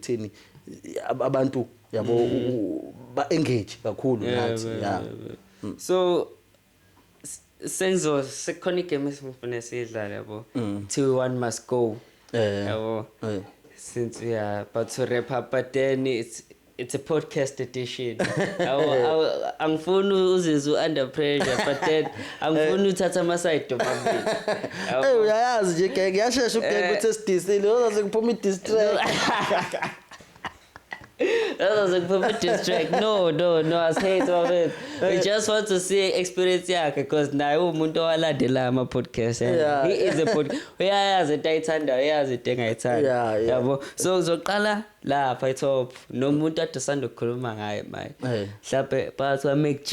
Thini abantu yabo ba engage kakhulu Mm. Yeah, nathi. yeah, Yeah. yeah, yeah. Mm. so s- senzo sekukhona igame esifuna siyidlale yabo Mm. kuthiwa one must go Eh. yabo Eh. since we are about to wrap up but then it's it's a podcast edition Awu- awu- angifuni uzizwe u-under pressure but then angifuni uthatha amasayidi omabili Eh uyayazi nje genge yashesha ugenge Eh. uthi esidisile uzoze kuphuma i-distract. Ozoze kuphuma i-distract no no no asihethi bafethu we just want to see experience yakhe because naye uwumuntu owalandela ama-podcast yakhe. Yeah. he is a pod uyayazi into ayithandayo uyayazi into engayithanda Yeah, yeah. yabo so uzoqala lapha itop nomuntu ade usanda kukhuluma ngaye maye Eh. mhlawumbe phakathi kwamacg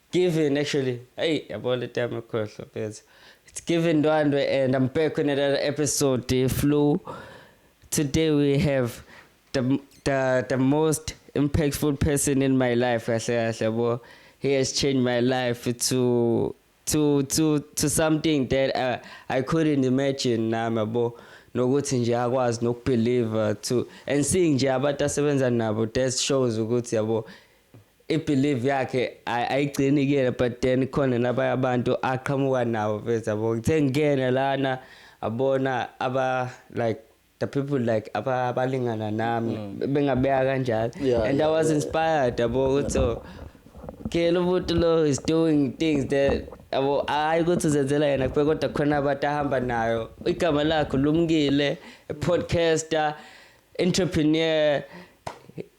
Given actually. Hey, yabo le time ekhohlo phezulu. It's given Ndwandwe and I'm back with another episode the flu. Today we have the the the most impactful person in my life kahle kahle yabo. He has changed my life to to to to something that uh, I couldn't imagine nami yabo. nokuthi nje akwazi nokubelieve to and seeing nje abantu asebenza nabo that shows ukuthi yabo ibelieve yakhe ayigcini kuyena but then khona nabanye abantu aqhamuka nawo mfethu yabo ngithe ngingena lana abona aba like the people like abalingana nami mm. bengabeka kanjalo yeah, and yeah, i was yeah, inspired yabo yeah. ukuthi so kela umuntu lo is doing things that yabo hayi ukuthi uzenzela yena kuphela kodwa khona abantu ahamba nayo igama lakhe lumkile podcaster entrepreneur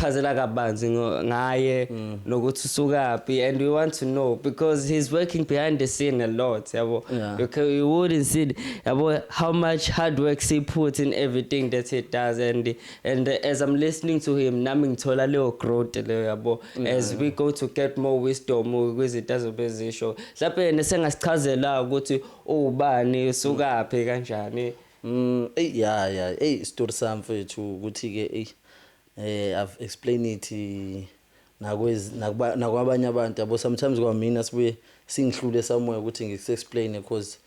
chazela kabanzi ngaye mm. nokuthi usukaphi and we want to know because he's working behind the scene a lot yabo yeah. you, can, you wouldn't see yabo how much hard work he puts in everything that he does and and as i'm listening to him nami ngithola leyo growth leyo yabo yeah. as we go to get more wisdom kwizinto azobe zisho mhlawumbe yena sengasichazela ukuthi uwubani usukaphi kanjani Umm ey ya ya ey istori sami mfethu ukuthi ke ey eh I've explain it nakwez nakuba nakwabanye abantu yabo sometimes kwamina sibuye singihlule somewhere ukuthi ngikuse explain because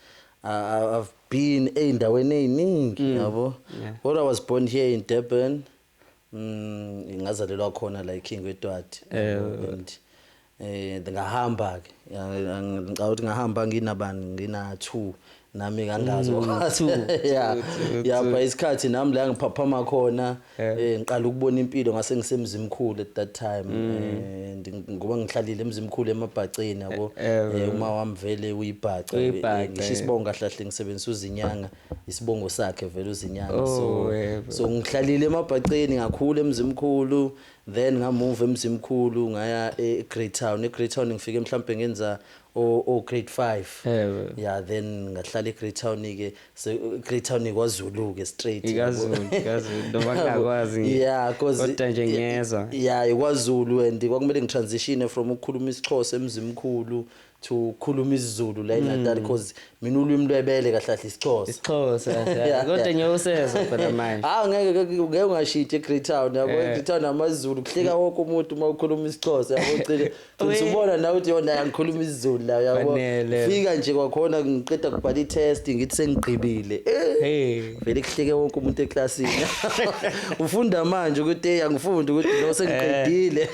I've been ezindaweni eziningi yabo kodwa I was born here in Durban Mm, ngazalelwa khona la eKing weTwati. Eh. And eh ngahamba ke. Ngicabanga ukuthi ngahamba nginabani ngina 2 nami kangazi okwathi. Mm, Yeah. Yaba isikhathi nami la ngiphaphama khona Yeah. eh ngiqala ukubona impilo ngase ngisemzimkhulu at that time. Mm. Eh, ndi- ngoba ngihlalile emzimkhulu emabhaceni yabo. Eh, Eh, uma wami vele uyibhaca. uyibhaca, Ngisho eh. isibongo kahlahle ngisebenzisa uzinyanga. isibongo sakhe vele uzinyanga oh, so so ngihlalile emabhaceni ngakhula emzimkhulu then ngamove emzimkhulu ngaya eGreat Town eGreat Town ngifike mhlambe ngenza o o grade 5 yeah then ngahlala eGreat Town ke eGreat Town kwaZulu ke straight ikaZulu ikaZulu noma ngakwazi yeah cause kodwa nje ngiyezwa yeah kwaZulu and kwakumele ngitransition from ukukhuluma isiXhosa emzimkhulu to khuluma isiZulu la eNatal because mina ulwimi lwebele kahle kahle isiXhosa. isixhosa Yeah, yeah. kodwa yeah. nyoka usezwa phela manje Hawu ngeke ngeke- ngeke ungashintshe eGreat Town yabo Eh. eGreat Town amaZulu kuhleka wonke umuntu uma ukhuluma isiXhosa yabo ugcine Uye. uthi ubona nawe uthi yona angikhuluma isiZulu la yabo Fanele. fika nje kwakhona ngiqeda kubhala i-test ngithi sengigqibile Eh, hey vele kuhleke wonke umuntu eklasini ufunda manje ukuthi hey angifundi ukuthi lo sengiqedile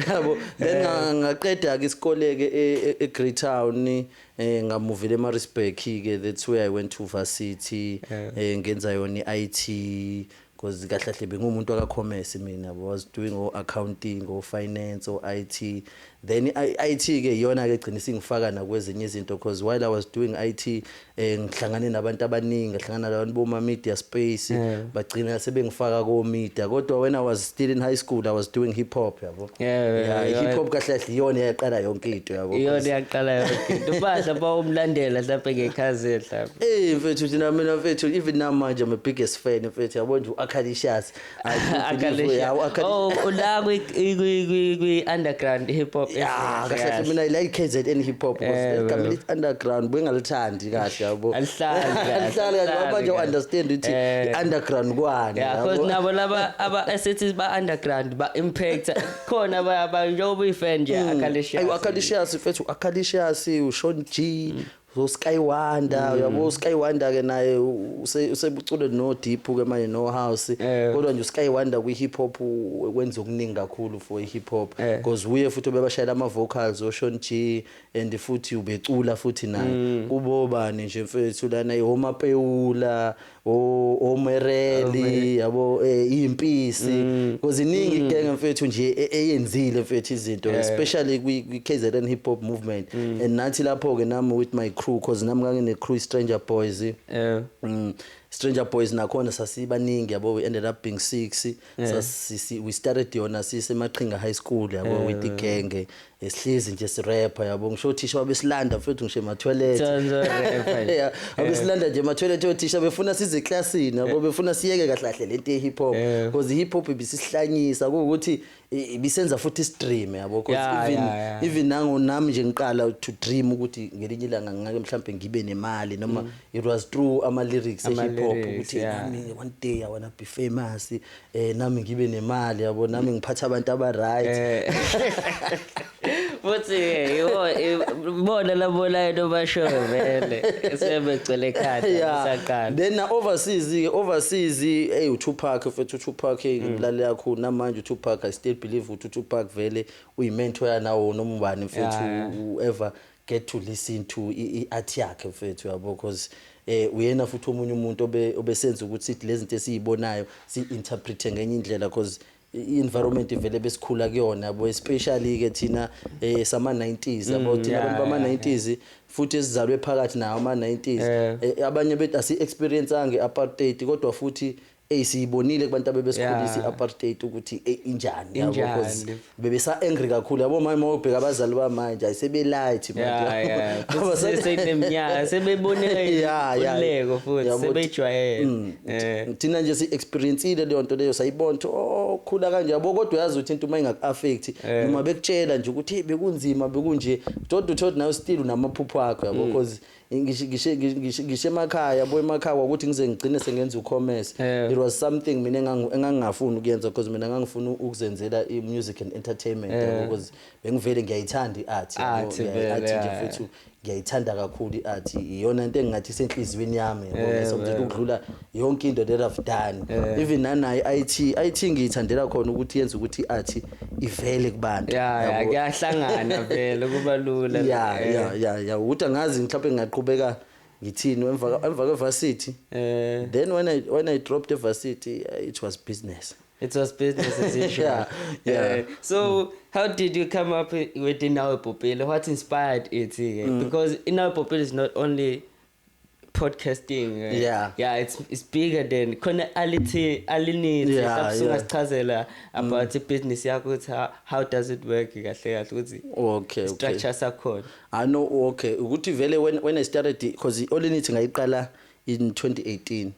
yabo then eh. nga- ngaqeda-ke isikole-ke e- e- egreytown um ngamuvela emarisburg-ke that's where i went to varsity um eh. ngenza yona i-i t because kahlahle bengumuntu akakhomesi mina was doing o-accounting o-finance o-i t then i-i t-ke iyona-ke gcina isingifaka nakwezinye izinto because while i was doing i t eh ngihlangane nabantu abaningi ngihlangana nabantu boma media space yeah. bagcina sebengifaka ko media kodwa when i was still in high school i was doing hip hop yabo yeah, yeah, yeah, yeah hip hop kahle kahle iyona yaqala yonke into yabo iyona yaqala yonke into badla bawumlandela mhlawumbe ngekhazi mhlawumbe eh mfethu thina mina mfethu even namanje i'm a biggest fan mfethu yabo nje uakhalishas Akalisha. Oh, ula kwi kwi kwi kwi underground hip hop. Yeah, kahle mina ila KZN hip hop because igama lithi underground bengalithandi kahle yabo. Alihlali kahle. Alihlali kahle ngoba nje understand ukuthi eh. underground kwani. Yeah, because nabo laba aba assets ba underground ba impact khona ba ba njengoba uyifan nje hmm. akalisha. Ayu akalisha sifethu akalisha si uShon G mm. so Sky Wonder mm. yabo Sky Wonder ke naye usebucule no deep ke manje no house eh. kodwa nje Sky Wonder kwi hip hop wenza okuningi kakhulu for hip hop eh. because uye futhi obebashayela ama vocals o Sean G and futhi ubecula futhi naye mm. kubobani nje mfethu lana ihoma peula omereli yabo eh, impisi mm. because iningi mm. genge mfethu nje e, eyenzile mfethu izinto especially kwi KZN hip hop movement mm. and nathi lapho ke nami with my crew because nami ngangine crew stranger boys yeah Stranger Boys nakhona sasibaningi yabo we ended up being 6 yeah. sasisi we started yona sise Maqhinga High School yabo yeah. with igenge Esihlezi nje sirapper yabo ngisho othisha wabesilanda mfethu ngisho emathwelet. Thanda rapper. Yeah, abesilanda nje emathwelet othisha befuna size eclassini yabo befuna siyeke kahle kahle lento ye hip hop Yeah. because hip hop ibisihlanyisa kuwukuthi i- ibisenza futhi stream yabo because Yeah, even yeah, yeah. even nango nami nje ngiqala to dream ukuthi ngelinye ilanga ngingake mhlambe ngibe nemali noma it was through ama lyrics e Mm. Ama hip hop lyrics, ukuthi yeah. nami one day i wanna be famous eh nami ngibe nemali yabo nami ngiphatha abantu aba right eh. futhi yiwo ibona labolayo nobasho vele sebegcwele ekhanda isaqala then na overseas ke overseas hey uTupac futhi uTupac ngimlale mm. yakho namanje uTupac i still believe ukuthi uTupac vele uyimentor yanawo nomubani futhi ever get to listen to i art yakhe mfethu yabo because eh uyena futhi omunye umuntu obe obesenza ukuthi sithi lezinto esizibonayo si interpret ngenye indlela because i-environment vele besikhula kuyona yabo especially ke thina eh sama 90s yabo mm, thina abantu bama 90s futhi esizalwe phakathi nawo ama 90s eh, abanye bethu asi experience ange apartheid kodwa futhi Ey siyibonile kubantu abebesikhulisa Yeah. i-apartheid ukuthi ey injani yabo Injani. because bebesa angry kakhulu yabo manje mawubheka abazali bamanje ayi sebe light manje Yeah, yeah. Abasa- Bese sekuneminyaka sebebone Yeah, yeah. uleko futhi Yabo, sebejwayele. Mm. Eh. thina nje si-experiensile leyo nto leyo sayibona ukuthi o khula kanje yabo kodwa uyazi ukuthi into uma ingaku-affect Eh. noma bekutshela nje ukuthi hey bekunzima bekunje kodwa uthole ukuthi nawe still unamaphupho akho yabo Mm. because ngisho ngisho- ngisho- ngisho emakhaya bo emakhaya kwakuthi ngize ngigcine sengenza ucommerce Eh. it was something mina engangu- engangingafuni ukuyenza because mina ngangifuna ukuzenzela i-music and entertainment Eh. yabo, because bengivele ngiyayithanda i-art yabo, Art ngiyayi- vele, art nje yeah. futhi ngiyayithanda kakhulu i-art iyona into engingathi isenhliziyweni yami yabo, Eh, ngisonto nje vele. ukudlula yonke into that I've done yeah. even nanayi IT IT ngiyithandela khona ukuthi yenze ukuthi iArt ivele kubantu yeah kuyahlangana vele kuba lula yeah eh. yeah yeah yeah ukuthi angazi mhlawumbe ngingaqhubeka ngithini emva emva kwevarsity eh then when i when i dropped the varsity uh, it was business It was business as usual. yeah, yeah. Uh, so, mm. how did you come up with Inawe Popele? What inspired it? Eh? Mm. Because Inawe Popele is not only podcasting uh, yeah yeah it's it's bigger than khona alithi alinithi yeah, yeah. sichazela about mm. business yakho ukuthi how does it work kahle kahle ukuthi okay structure sakhona i know okay ukuthi vele when when i started because olinithi ngayiqala in 2018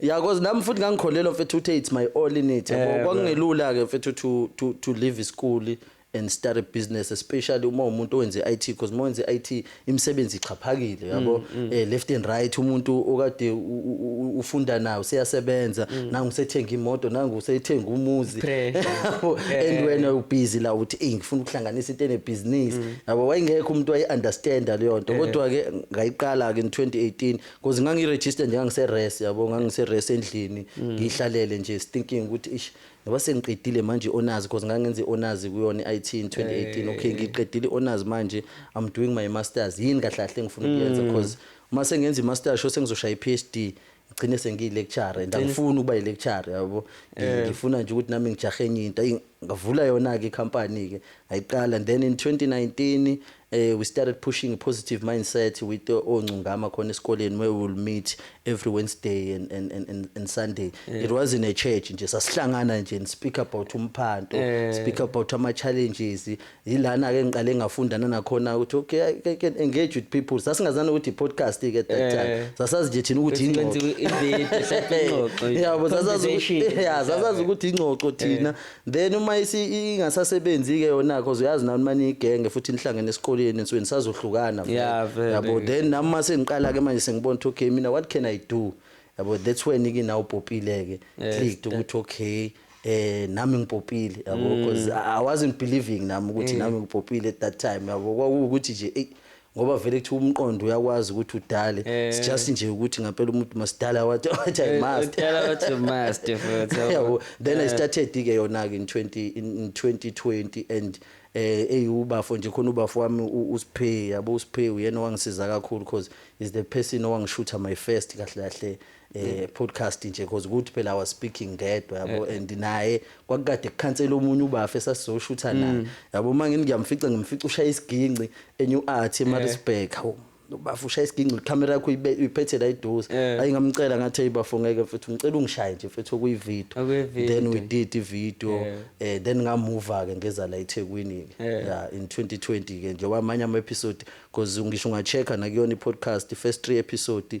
Yeah, cause nami futhi ngangikholelwa mfethu ukuthi it's my all in it. Yabo Eh, kwakungelula ke mfethu to to to leave isikole and start a business especially uma umuntu owenze IT because uma wenze IT imisebenzi ixhaphakile yabo Mm, eh left and right umuntu okade u- u- u- ufunda nayo useyasebenza nangu usethenga imoto nangu usethenga umuzi Mm. Pressure. Yabo, Eh, eh. and wena ubhizi la uthi hey ngifuna ukuhlanganisa into enebhizinisi Mm. yabo wayengekho umuntu wayi understand leyo nto Eh. kodwa ke ngayiqala ke in 2018 Cause ngangiregister nje ngangise rest yabo ngangise rest endlini ngihlalele nje thinking ukuthi ish ngoba sengiqedile manje honors cause ngangenze honors kuyona IT in 2018 okay ngiqedile honors manje I'm doing my masters yini kahle kahle engifuna ukuyenza cause uma sengenza i masters sho sengizoshaya i PhD ngigcine sengiyi lecturer and angifuni ukuba i lecturer yabo ngifuna nje ukuthi nami ngijahe enye into ayi ngavula yona ke i company ke ngayiqala then in 2019 Eh, we started pushing a positive mindset with uh, ongcungama khona esikoleni where we will meet every Wednesday and, and, and, and, and Sunday. Yeah. It was in a church nje sasihlangana nje and speak about umphanto, yeah. speak about ama challenges. Yilana ke ngiqale ngafunda nanakhona ukuthi okay I can engage with people. Sasingazana ukuthi podcast ke at that yeah. time. Sasazi nje thina ukuthi ingxoxo. Yeah, but sasazi ukuthi yeah, sasazi ukuthi ingxoxo thina. then uma isi- ingasasebenzi-ke yona cause uyazi nani uma niyigenge futhi nihlangene esikoleni nisuke nisazohlukana vele. Yeah, vele. yabo then nami uma sengiqala-ke manje sengibona ukuthi okay mina what can i do yabo that's when-ke nawe upopile-ke Yes, clicked ukuthi okay eh nami ngipopile yabo because i I wasn't believing nami ukuthi nami ngipopile at that time yabo kwakuwukuthi nje eyi ngoba vele kuthiwa umqondo uyakwazi ukuthi udale eh. it's just nje ukuthi ngampela umuntu masidala wathi wathi i eh, must udala wathi must futhi then i eh. started ke yona ke in 20 in 2020 and eh eyubafo nje khona ubafo wami uSphe yabo uSphe uyena wangisiza kakhulu because is the person owangishutha my first kahle kahle eh podcast nje because ukuthi phela I was speaking ngedwa yabo and naye kwakukade kukhansela omunye ubafa esasizoshutha naye yabo uma ngini ngiyamfica ngimfica ushaya isiginci eNew Art eMaritzburg hawu ubafa ushaya isiginci ikhamera yakho uyibe- uyiphethe la iduze Eh. ayi ngamcela ngathi hey bafo ngeke mfethu ngicela ungishaye nje mfethu okuyivideo Okuyi-video. then we did ivideo Yeah. eh then ngamuva ke ngeza la eThekwini ke Yeah. yeah in 2020 ke nje wamanye ama episode because ngisho ungachecker nakuyona i podcast first 3 episode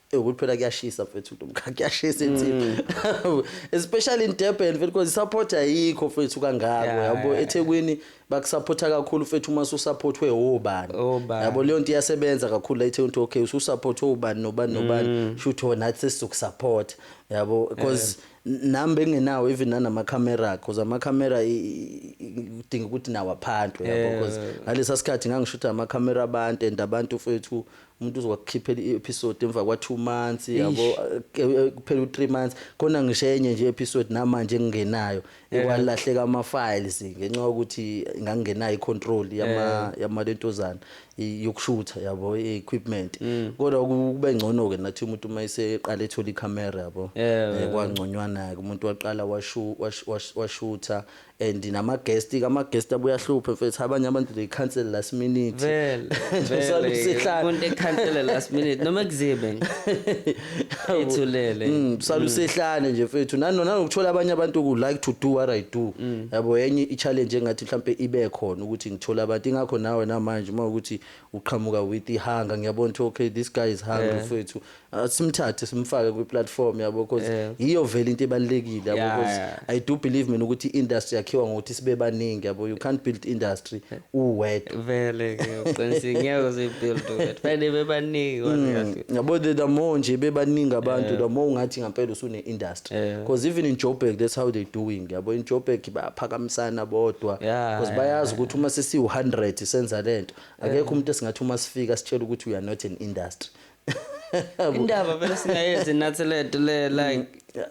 Ewu kuthi phela kuyashisa mfethu nomkhaya kuyashisa insipho. Especially in Durban mfethu because support ayikho mfethu kangako Yeah, yabo yeah, eThekwini bakusupporta kakhulu mfethu uma susupportwe obani. Obani. Yabo leyo nto iyasebenza kakhulu la eThekwini ukuthi okay ususupport obani nobani nobani Mm. shuthi wona athi sizokusupport yabo because nami bengenawo even nanama camera because ama camera i- i- i- kudinga ukuthi nawo aphantwe yabo because ngalesa sikhathi ngangishutha ama camera abantu and abantu mfethu umuntu uzokukhiphela i-episode emva kwa 2 months yabo kuphela u 3 months khona ngisho enye nje episode namanje engingenayo ekwalahleka ama files ngenxa ukuthi ngangingenayo icontrol yama yama lentozana yokushutha yabo equipment kodwa kube ngcono ke nathi umuntu uma eseqala ethola icamera yabo kwangconywana ke umuntu waqala washutha and nama guest ke ama guest abuya hluphe mfethu abanye abantu they cancel last minute vele vele umuntu ecancel last minute noma kuzibe ethulele mm sala usehlane mm. nje mfethu nanona ngokuthola abanye abantu ku like to do what i do mm. yabo yenye i challenge engathi mhlambe ibe khona ukuthi ngithola abantu ingakho nawe namanje uma ukuthi uqhamuka with ihanga ngiyabona ukuthi okay this guy is hungry yeah. mfethu asimthathe simfake kwi-platform yabo because Yeah. yiyo vele into ebalulekile yabo Yeah, because yeah. i do believe mina ukuthi i-industry yakhiwa ngokuthi sibe baningi yabo you can't build industry uwedwa vele ke uqinisile ngeke uzibuild wethu fanele bebaningi wazi kahle yabo the, the more nje bebaningi abantu the more ungathi ngampela usune-industry Yeah. because even in joburg that's how they doing yabo in joburg bayaphakamisana bodwa Yeah, because yeah, bayazi ukuthi uma sesiwu-100 senza le nto akekho umuntu esingathi uma sifika sitshela ukuthi we are not an industry indaba vele singayenzi nathi lento le like mm.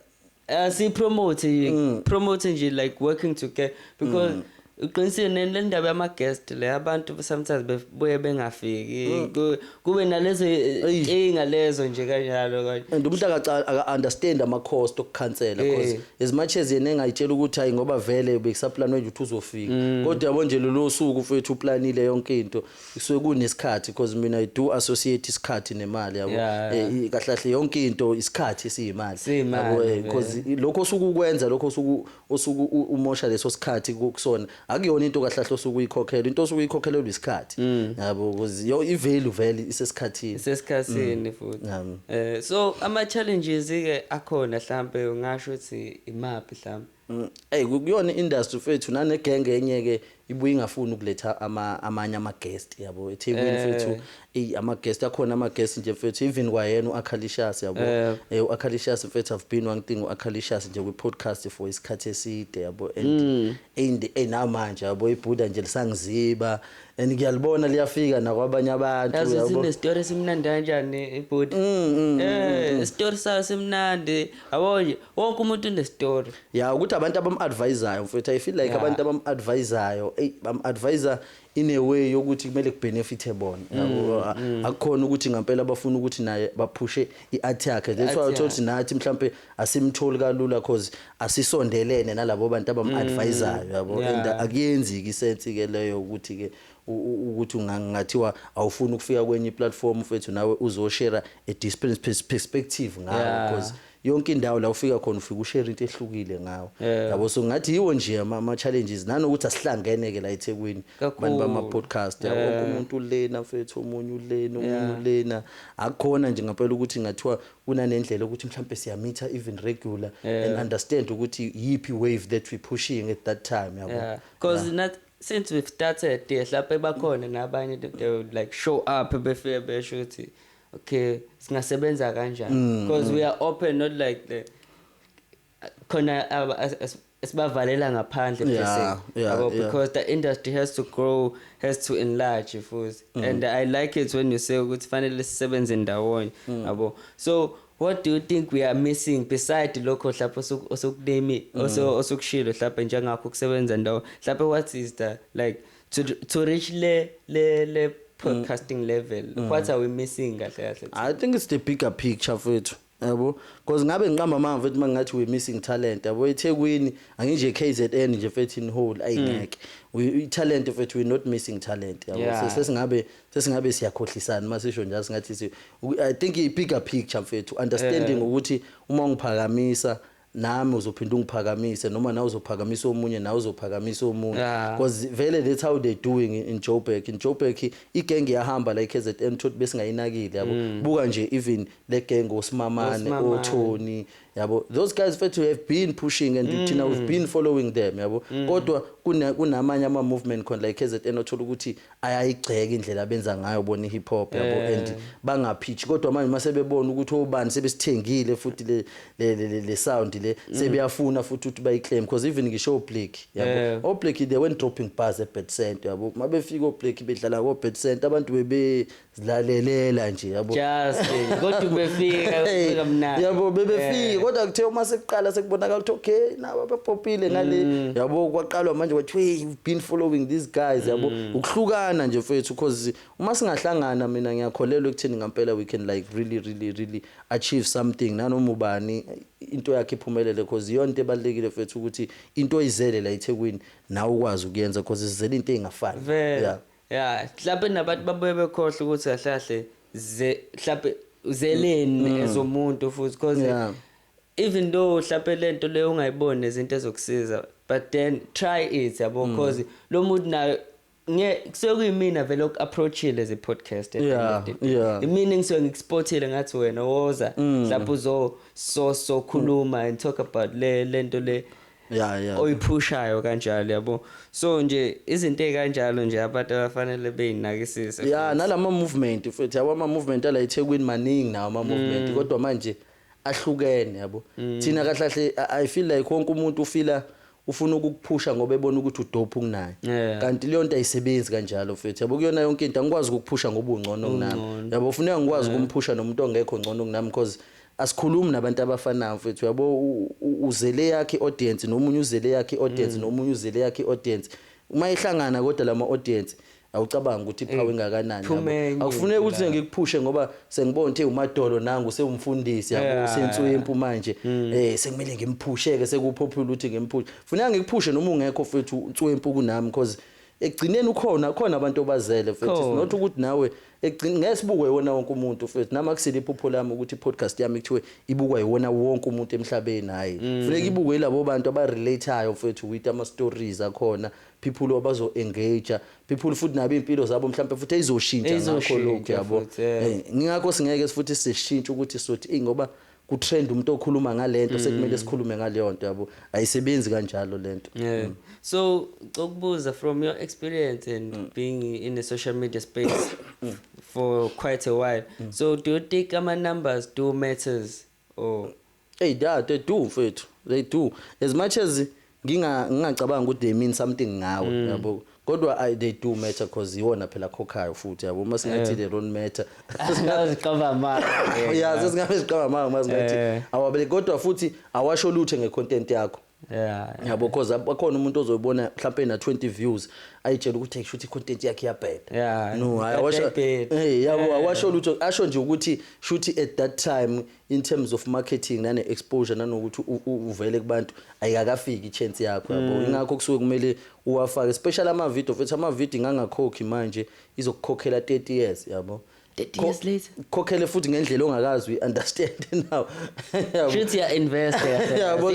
asiyipromote uh, mm. promote nje like working together because mm. uqinisile le ndaba yama-guest le abantu sometimes bebuye bengafiki mm. kube nalezo nkinga lezo nje kanjalo kanje and umuntu aka-understand ama-cost okukhansela because eh. as much as yena engayitshela ukuthi hayi ngoba vele bekusaplanwe nje ukuthi uzofika mm. kodwa yabo nje lolo suku mfethu uplanile yonke into kusuke kunesikhathi because mina i do associate isikhathi nemali yabo Yeah. Eh, i- kahle kahle yonke into isikhathi siyimali Siyimali, Yabo, eh, vele. because i- lokho osuke ukwenza lokho osuku osuku u- umosha leso sikhathi ku- kusona akuyona into kahle kahle osuke uyikhokhela into osuke uyikhokhelelwa isikhathi Mm. yabo because yo i value vele isesikhathini isesikhathini futhi Yami. eh so ama challenges ke akhona mhlambe ungasho ukuthi imaphi mhlambe Mm, Ey ku- kuyona industry mfethu nane gang enye ke ibuye ingafuni ukuletha ama amanye ama guest yabo eThekwini Eh. mfethu ey ama guest akhona ama guest nje mfethu even kwayena uAkhalishas yabo Eh. eh uAkhalishas mfethu I've been one thing uAkhalishas nje kwi podcast for isikhathi eside yabo Mm. and and ey namanje yabo ibhuda nje lisangiziba and ngiyalibona liyafika nakwabanye abantu yazi yabo sinestori esimnandi kanjani ibhuti Mm, mm, Eh, isitori sayo simnandi yabo nje wonke umuntu unestory ya ukuthi abantu abam-advisayo mfethu i feel like yeah. abantu abam-advisayo eyi bam-advisa in a way yokuthi kumele kubenefithe bona mm, mm. akukhona ukuthi ngampela bafuna ukuthi naye baphushe i-art yakhe that's why uthola ukuthi nathi mhlawumpe asimtholi kalula cause asisondelene nalabo bantu abam-advisayo mm, yabo and akuyenzi-ke isensi-ke leyo ukuthi-ke ukuthi ungathiwa awufuni ukufika kwenye iplatform mfethu nawe uzoshera a discipline perspective ngayo because yeah. yonke indawo la ufika khona ufika ushare into ehlukile ngawo yeah. yabo so ngathi yiwo nje ama challenges nanokuthi asihlangene ke la eThekwini abantu bama podcast yabo yeah. umuntu lena mfethu omunye ulena omunye yeah. ulena akukhona nje ngempela ukuthi ngathiwa kunanendlela ukuthi mhlambe siyamitha even regular yeah. and understand ukuthi yipi wave that we pushing at that time yabo yeah. because yeah. not since we've started yes lapha bakhona nabanye they will like show up befike besho ukuthi okay singasebenza kanjani mm, because mm. we are open not like the khona esibavalele ngaphandle yeah, yeah, yeah. because the industry has to grow has to enlarge futhi mm. and i like it when you say ukuthi fanele sisebenze ndawonye mm. yabo mm. so what do you think we are missing beside lokho hlapha osukunemi mm. osukushilo hlapha njengakho kusebenza ndawo hlapha what is the like to, to reach le le le podcasting mm. level mm. what are we missing kahle kahle i think it's the bigger picture fethu yabo because ngabe ngiqamba amanga mfethu mangathi we missing talent yabo eThekwini anginje KZN nje mfethu in whole ayingeke mm. we talent mfethu we not missing talent yabo sesingabe sesingabe siyakhohlisana masisho nje singathi i think i bigger picture mfethu understanding ukuthi uma ngiphakamisa nami uzophinde ungiphakamise noma nawe uzophakamisa omunye nawe uzophakamisa omunye yeah. cause vele that's how they doing in Joburg in Joburg igenge yahamba la eKZN thothi besingayinakile yabo mm. buka nje even le gang osimamane oThoni yabo those guys fethu have been pushing and mm. thina we've been following them yabo mm. kodwa kunamanye ama movement khona la eKZN othola ukuthi ayayigxeka indlela abenza ngayo bona ihip hop yabo eh. and bangaphithi kodwa manje mase bebona ukuthi obani sebesithengile futhi le le le, le sound le mm. sebeyafuna futhi ukuthi bayiclaim because even ngisho oblack yabo eh. oblack they went dropping bars at bed center yabo mabefika oblack bedlala ko bed center abantu bebe zilalelela nje yabo just nje. kodwa ubefika Hey, ubefika mnandi yabo bebefika kodwa kuthe uma sekuqala sekubonakala ukuthi okay nabo bepopile ngale Mm. yabo kwaqalwa manje kwathiwa hey you've been following these guys yabo Mm. ukuhlukana nje mfethu cause uma singahlangana mina ngiyakholelwa ekutheni ngampela we can like really really really achieve something nanoma ubani into yakhe iphumelele cause iyona into ebalekile mfethu ukuthi into oyizele la eThekwini nawe ukwazi ukuyenza cause sizele into engafani Vele. yeah ya mhlawumbe nabantu babuye bekhohle ukuthi kahle kahle ze mhlawumbe uzeleni mm. as umuntu futhi because yeah. even though mhlawumbe lento leyo ungayiboni nezinto ezokusiza but then try it yabo mm. because lo muntu nayo nge kusuke kuyimina vele oku-approachile ze podcast yeah, yeah. imina engisuke ngikuspotile ngathi wena woza mm. mhlawumbe uzososokhuluma and talk about le lento le yeah yeah oyiphushayo kanjalo yabo so nje izinto ezikanjalo nje abantu abafanele beyinakisise yeah nalama movement futhi yabo ama movement ala eThekwini maningi nawo ama movement mm. kodwa manje ahlukene yabo mm. thina kahlahle i feel like wonke umuntu ufila ufuna ukukuphusha ngoba ebona ukuthi udope kunaye yeah. kanti leyo nto ayisebenzi kanjalo futhi yabo kuyona yonke into angikwazi ukukuphusha ngoba ungcono kunami yabo ufuneka ngikwazi yeah. ukumphusha nomuntu ongekho ngcono kunami because Asikhulumi nabantu abafanayo mfethu uyabo uzele yakhe audience nomunye uzele yakhe audience mm. nomunye uzele yakhe audience uma ehlangana kodwa lama audience awucabanga ukuthi ipower eh, ingakanani akufuneki ukuthi ngikuphushe ngoba sengibona ukuthi umadolo nangu sewumfundisi yabo senswempu manje mm. eh sekumele ngimphusheke sekupopular ukuthi ngimphushe funeka ngikuphushe noma ungekho mfethu unswempu kunami because ekugcineni ukhona khona abantu obazele futhi Khona. not ukuthi nawe ekugcin ngeke sibukwe iwona wonke umuntu futhi nami akusile iphupho lami ukuthi podcast yami kuthiwe ibukwa iwona wonke umuntu emhlabeni hayi Mm. funeka ibukwe ilabo bantu abarelateayo futhi with ama stories akhona people abazo engage people futhi nabo impilo zabo mhlawumbe futhi ezoshintsha ngakho Ezoshintsha lokho yabo futhi, yeah. Eh, ngingakho singeke futhi sishintshe ukuthi sothi ingoba ku trend umuntu okhuluma ngalento mm. sekumele sikhulume ngaleyonto yabo ayisebenzi kanjalo lento yeah. mm. so cokubuza from your experience and mm. being in the social media space mm. for quite a while mm. so do you think ama numbers do matters or hey da they do mfethu they do as much as Nginga ngingacabanga ukuthi they mean something ngawe mm. yabo. Kodwa I they do matter because iwona phela khokhayo futhi yabo uma singathi eh. they don't matter. Singaziqaba amanga. Yeah, sesingabe siqaba amanga uma singathi eh. awabele kodwa futhi awasho lutho ngecontent yakho. Yeah. Yabo because akhona umuntu ozoyibona mhlawumbe na 20 views ayitshela ukuthi kushuthi content yakhe iyabheda. Yeah. No, awasho. Eh, yabo awasho lutho asho nje ukuthi shuthi at that time in terms of marketing nane exposure nanokuthi uvele kubantu ayikakafiki ichance yakho yabo mm. ingakho kusuke kumele uwafake special ama video futhi ama video ngangakhokhi manje izokukhokhela 30 years yabo 30 years later khokhele futhi ngendlela ongakazi we understand now futhi ya invest yabo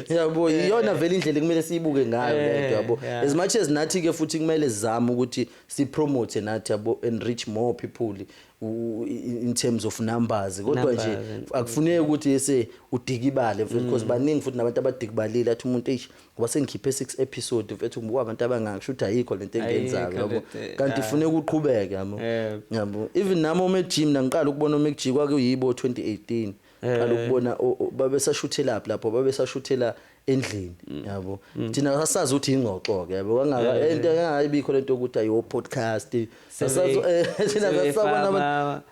yabo iyona vele indlela kumele siyibuke ngayo eh, lento yabo as much as nathi ke futhi kumele sizame ukuthi si promote nathi yabo and reach more people in terms of numbers kodwa nje akufuneki ukuthi ese udikibale mfethu because mm. baningi futhi nabantu abadikibalile athi umuntu eish ngoba sengikhiphe 6 episode mfethu ngoba abantu abangaki shuthi ayikho lento engenzayo yabo eh, kanti ah. funeka uqhubeke yabo eh. yabo even nami ome gym nangiqala ukubona ome gym kwakuyibo 2018 qala ukubona o- o- babesashuthelaphi lapho babesashuthela endlini yabo thina sasazi ukuthi ingxoxo ke yabo kangaka into engayibikho lento ukuthi ayo podcast sasazi eh, thina sasabona abantu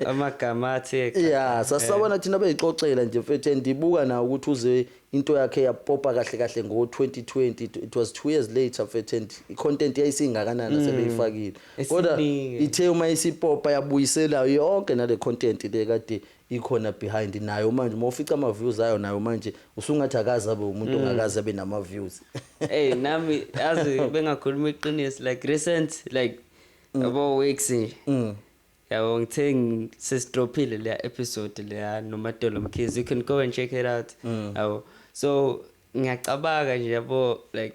amagama athi ya sasabona thina beyixoxela nje mfethu and ndibuka nawo ukuthi uze Into yakhe yapopa kahle kahle ngo 2020 it was two years later mfethu and i content yayisingakanani mm. sebeyifakile kodwa ithe uma isipopa yabuyisela yonke nale content le kade ikhona behind nayo manje uma ufica ama views ayo nayo manje usungathi akaze abe umuntu mm. ongakaze abe nama views hey nami azi bengakhuluma iqiniso like recent like mm. about weeks nje mm. yabo ngithe sesidrophile leya episode leya nomadolo mkhizi you can go and check it out mm. yabo so ngiyacabanga nje yabo like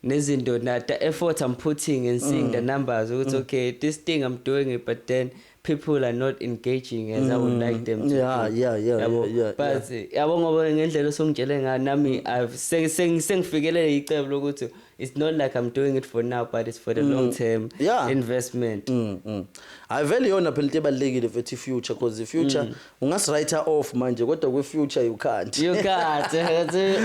nezinto na the effort i'm putting and seeing mm. the numbers ukuthi mm. okay this thing i'm doing it but then people are not engaging as mm. i would like them to yeah do. yeah yeah yabo yeah, yeah, but yabo ngoba ngendlela osongitshele ngayo nami i've sengifikelele icebo lokuthi it's not like i'm doing it for now but it's for the mm. long term yeah. investment mm, mm. hayi vele iyona phela into ebalulekile mfethu i-future because i-future mm. ungasi-writer off manje kodwa kwi-future you can't you can't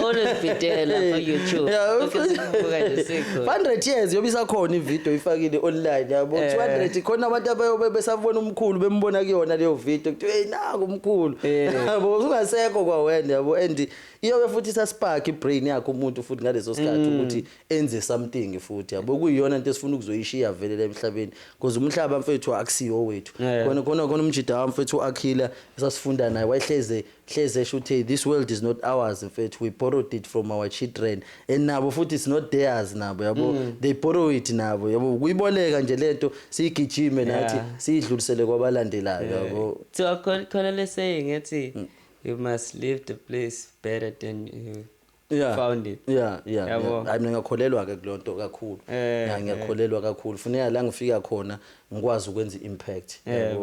always be there lapho youtube yeah, okay, 500 years yobe isakhona ividiyo ifakile online yabo eh. 200 khona abantu abayobe besabona umkhulu bembona kuyona leyo vidiyo kuthiwa hey naku umkhulu eh. yabo ungasekho kwawena yabo and iyoke futhi isaspark ibrain yakhe umuntu futhi ngaleso sikhathi mm. ukuthi enze something futhi yabo kuyiyona into esifuna ukuzoyishiya vele la emhlabeni because umhlaba mfethu akusiyo wethu khona khona khona umjida wami mfethu akhila esasifunda naye wayehleze hleze esho ukuthi this world is not ours mfethu we borrowed it from our children and nabo futhi it's not theirs nabo yabo mm. they borrow it nabo yabo kuyiboleka nje lento siyigijime nathi siyidlulisele kwabalandelayo yabo kuthiwa khona le saying ethi mm. you must leave the place better than you yeah. found it yeah yeah hayi yeah. mina ngiyakholelwa ke kulonto kakhulu eh, yeah, ngiyakholelwa yeah. kakhulu funeka la ngifika khona ngikwazi ukwenza impact yeah,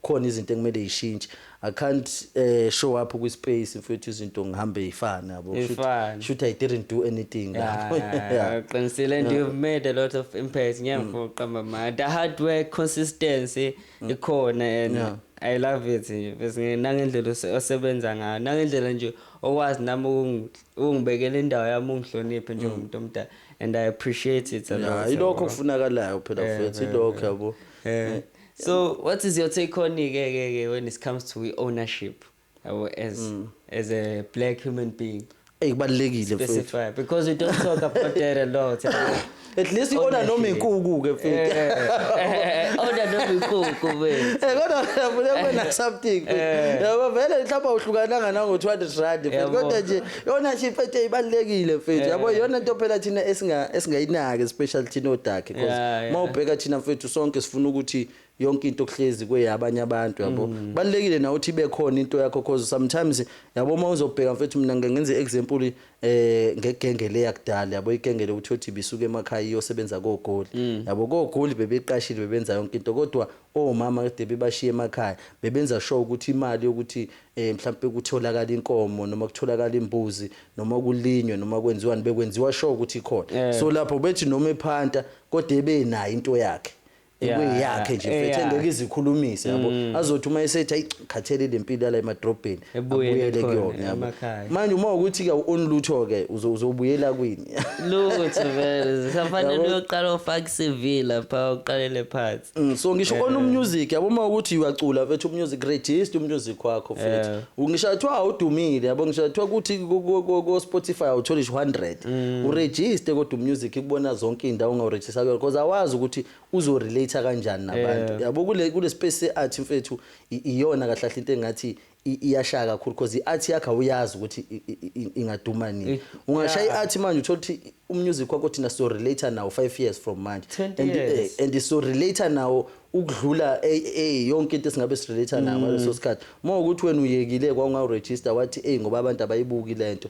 khona izinto ekumele ishintshe i can't uh, show up kwi space mfethu izinto ngihambe ifana yabo shoot i didn't do anything yeah, yeah. yeah. qinisile and yeah. you've made a lot of impact ngiyamfoqa mm. mama the hard work consistency ikhona and yeah. i love it nje bese nangendlela osebenza ngayo nangendlela nje okwazi nami ukungibekela indawo yami ungihloniphe njengomuntu mm. omdala and i appreciate it a lot yeah, ilokho kufunakalayo phela eh, futhi eh, ilokho eh. yabo so what is your take on ke ke when it comes to ownership Yabo as mm. as a black human being. Hey kubalekile mfethu. Specify because we don't talk about that a lot. At least iona noma inkuku ke mfethu. Eh, eh, eh, ona noma inkuku mfethu. Eh kodwa ngiyafuna kwena something. Yabo vele mhlawumbe uhlukananga nango 200 rand mfethu kodwa nje yona nje mfethu ibalekile mfethu. Yabo yona into phela thina esinga esingayinaki special thina odakhe because mawubheka thina mfethu sonke sifuna ukuthi yonke into okuhlezi kweyabanye abantu yabo mm. balekile na uthi bekhona into yakho cause sometimes yabo uma uzobheka mfethu mina ngeke ngenze example eh ngegenge le yakudala yabo igenge le uthi uthi bisuke emakhaya iyosebenza kogoli mm. yabo kogoli bebeqashile bebenza yonke into kodwa omama kade bebashiye emakhaya bebenza sure ukuthi imali yokuthi eh mhlawumbe kutholakala inkomo noma kutholakala imbuzi noma kulinywe noma kwenziwani bekwenziwa sure ukuthi ikhona eh. so lapho bethi noma ephanta kodwa ebenayo into yakhe ekuyakhe nje mfethu yeah. engeke izikhulumise yabo mm. azothi uma esethi ayi khathele lempilo yala emadrobheni abuyele kuyona yabo manje uma ukuthi ke on lutho ke uzobuyela kwini lutho vele sisafanele uyoqala ufake CV lapha uqalele phansi mm, so ngisho on umusic yabo uma ukuthi uyacula mfethu umusic register umusic wakho mfethu ngisho athiwa udumile yabo ngisho athiwa ukuthi ku Spotify awutholi 100 mm. uregister kodwa umusic kubona zonke indawo ngawu Sakuyona because awazi ukuthi uzo relate kanjani nabantu. Yeah. Yabo kule kule space se art mfethu i- iyona kahle kahle into engathi i- iyashaya kakhulu because i art yakhe awuyazi ukuthi i- i- i- ingaduma nini. Eh, Ungashaya yeah. i art manje uthola ukuthi u music wakho thina so relate nawo 5 years from manje. 20 And, eh, years. and so relate nawo ukudlula eh, eh, yonke into esingabe si relate nayo ngaleso sikhathi. Uma ukuthi wena uyekile kwaungawu register wathi eh ngoba abantu abayibuki lento.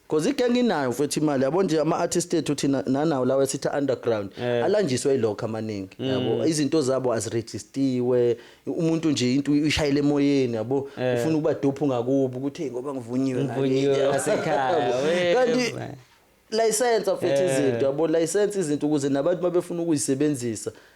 Cause igang inayo mfethu imali yabo nje ama artist ethu thina nanawo lawa esithi underground Eh. alanjiswe ilokho amaningi Mm. yabo izinto zabo aziregistiwe umuntu nje into uyishayile emoyeni yabo Eh. ufuna ukuba dope ngakubo ukuthi hey ngoba ngivunyiwe Ngivunyiwe ngakithi." ngasekhaya, we- kanti license mfethu Eh. izinto yabo license izinto ukuze nabantu mabefuna ukuyisebenzisa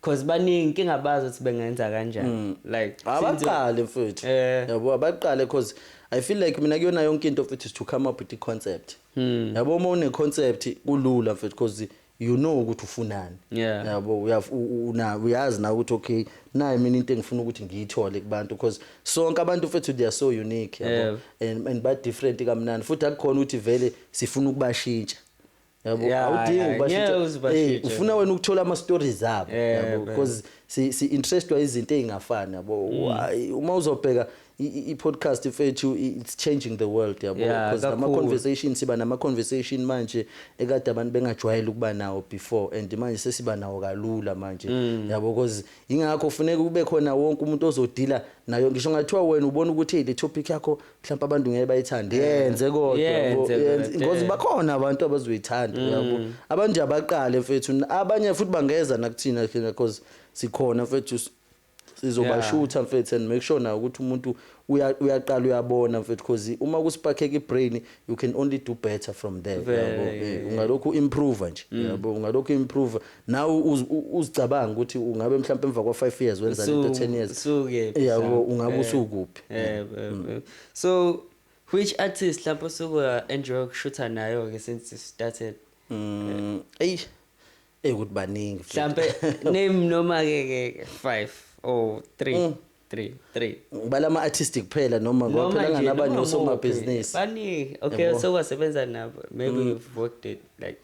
Cause baningi inkinga abazi ukuthi bengenza kanjani. Mm. Like ah, since- abaqale mfethu Eh. yabo abaqale cause i feel like mina kuyona yonke into mfethu is to come up with i-concept Hmm. yabo uma une-concept kulula mfethu cause you know ukuthi ufunani Yeah. yabo uyaf- u- u- una- uyazi na ukuthi okay nayi mina into engifuna ukuthi ngiyithole kubantu cause sonke abantu mfethu they are so unique yabo Yeah. and, and ba-different kamnandi futhi akukhona ukuthi vele sifuna ukubashintsha yabo Yeah, awudingi yeah, ukubashintsha. ngeke uze ubashintshe. Eh, ufuna wena ukuthola ama stories abo Yeah, yabo man. because si si interestwa izinto ezingafani yabo Mm. Hayi, uma uzobheka i- i i podcast ifethu i- it's changing the world yabo Yeah, because ama kakhulu. conversation siba nama conversation manje ekade abantu bengajwayele ukuba nawo before and manje sesiba nawo kalula manje Mm. yabo because ingakho kufuneka kube khona wonke umuntu ozodila nayo ngisho ngathiwa wena ubona ukuthi hey, le topic yakho mhlawumbe abantu ngeke bayithande yenze kodwa Yenze, yenze. yenze. Mm. ngoze bakhona abantu abazoyithanda yabo abanje abaqale mfethu abanye futhi bangeza nakuthina thina because sikhona mfethu s- sizobashutha mfethu and make sure nayo ukuthi umuntu uya- uyaqala uyabona mfethu because uma kusipakheka ibrain you can only do better from there Vele, yabo yeah, Mm. Eh, ungalokhu improve nje yabo ungalokhu improve nawe uzicabanga ukuthi ungabe mhlawumbe emva kwa 5 years wenza lento 10 years yabo ungabe eh, usukuphi eh, mm. eh, so which artist lapho suku enjoy ukushutha nayo ke since started mm, eyi ekuthi baningi mhlawumbe name noma ke 5 or 3 3 3 ngibala ama artist kuphela noma ngoba phela nganabanye osomabhizinisi baningi okay so wasebenza nabo maybe mm. we've worked it like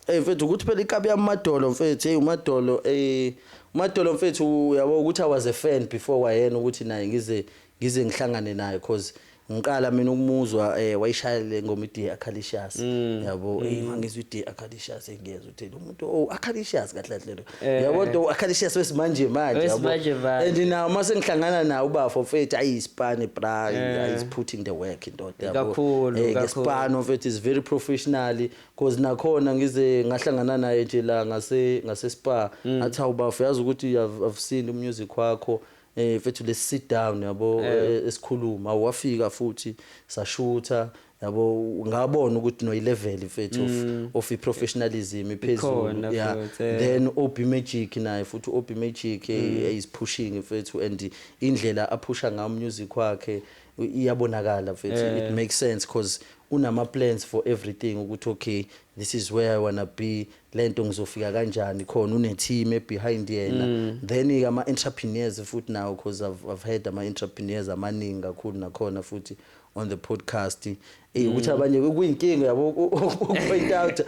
Hey mfethu ukuthi phela ikabi yamadolo mfethu hey umadolo eh umadolo mfethu uyabo ukuthi I was a fan before wayena ukuthi naye ngize ngize ngihlangane naye cause Ngiqala mina ukumuzwa eh wayishaya le ngoma iDe Acalicious mm. yabo mm. hey mangizwa iDe Acalicious engiyeza ukuthi lo muntu oh Acalicious kahle kahle lo eh. yabo do Acalicious wesimanje manje yabo and now uma sengihlangana nawo ubafo mfethu ayi ispan bra eh. is putting the work indoda yabo kakhulu eh, kakhulu ispan mfethu is very professionally because nakhona ngize ngahlangana naye nje la ngase ngase spa mm. athi awubafo yazi ukuthi i've seen umusic wakho eh mfethu let's sit down yabo eh. eh, esikhuluma wafika futhi sashutha yabo ngabona ukuthi no level mfethu of mm. of professionalism iphezulu yeah eh. then OB Magic naye futhi OB Magic eh, mm. is pushing mfethu and indlela aphusha ngayo music wakhe iyabonakala mfethu it makes sense because unama plans for everything ukuthi okay this is where i wanna be lento ngizofika kanjani khona une team behind yena mm. then ke ama entrepreneurs futhi nawo because I've, I've heard ama entrepreneurs amaningi kakhulu nakhona futhi on the podcast eh ukuthi mm. abanye kuyinkinga yabo point out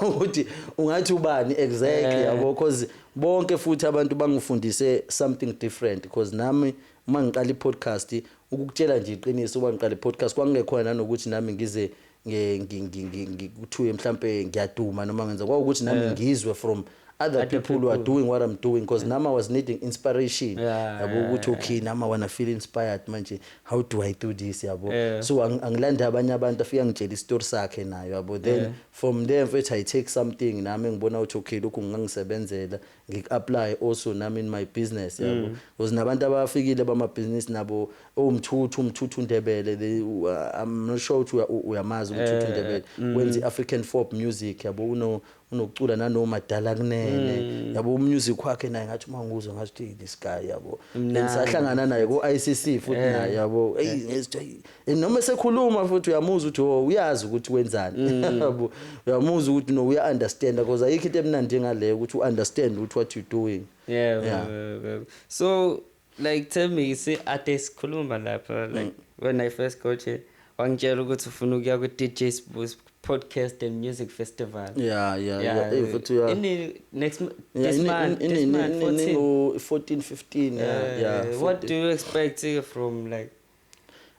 ukuthi ungathi ubani exactly eh. yabo because bonke futhi abantu bangifundise something different because nami uma ngiqala i-podcast ukukutshela nje iqiniso uba ngiqala i-podcast kwangingekhona nanokuthi nami ngize ngi- ngi- ngi- ngi- ngi- kuthiwe mhlampe ngiyaduma noma ngenza kwawukuthi nami Yeah. ngizwe from other Other people who are people. doing what i'm doing because nami i was needing inspiration Yeah, yabo yeah, ukuthi yeah. okay nami i wanna feel inspired manje how do i do this yabo Yeah. so ang- angilande abanye abantu afike angitshela isitori sakhe nayo yabo then Yeah. from there mfethu i take something nami engibona ukuthi okay lokhu ngingangisebenzela ngiku apply also nami in my business yabo mm. because nabantu abafikile bamabhizinisi nabo owumthuthu oh, umthuthu uNdebele they uh, I'm not sure ukuthi uyamazi umthuthu eh, uNdebele eh, mm. wenza African folk music yabo uno unokucula nanoma dala kunene mm. yabo umusic wakhe naye ngathi uma nguzwa ngathi this guy yabo lengisahlangana naye ku ICC futhi eh. naye yabo hey ngesithi Eh, noma esekhuluma futhi uyamuzwa ukuthi oh uyazi ukuthi wenzani mm. yabo uyamuzwa ukuthi no uya understand because ayikho into emnandi engaleyo ukuthi u understand ukuthi what you doing yeah, yeah. Uh, so like tell me see ade sikhuluma lapha like mm. when i first got here wangitshela ukuthi ufuna ukuya ku DJ Sbu's podcast and music festival yeah yeah yeah eh, futhi yeah in next this month in in 14 15 yeah what do you expect from like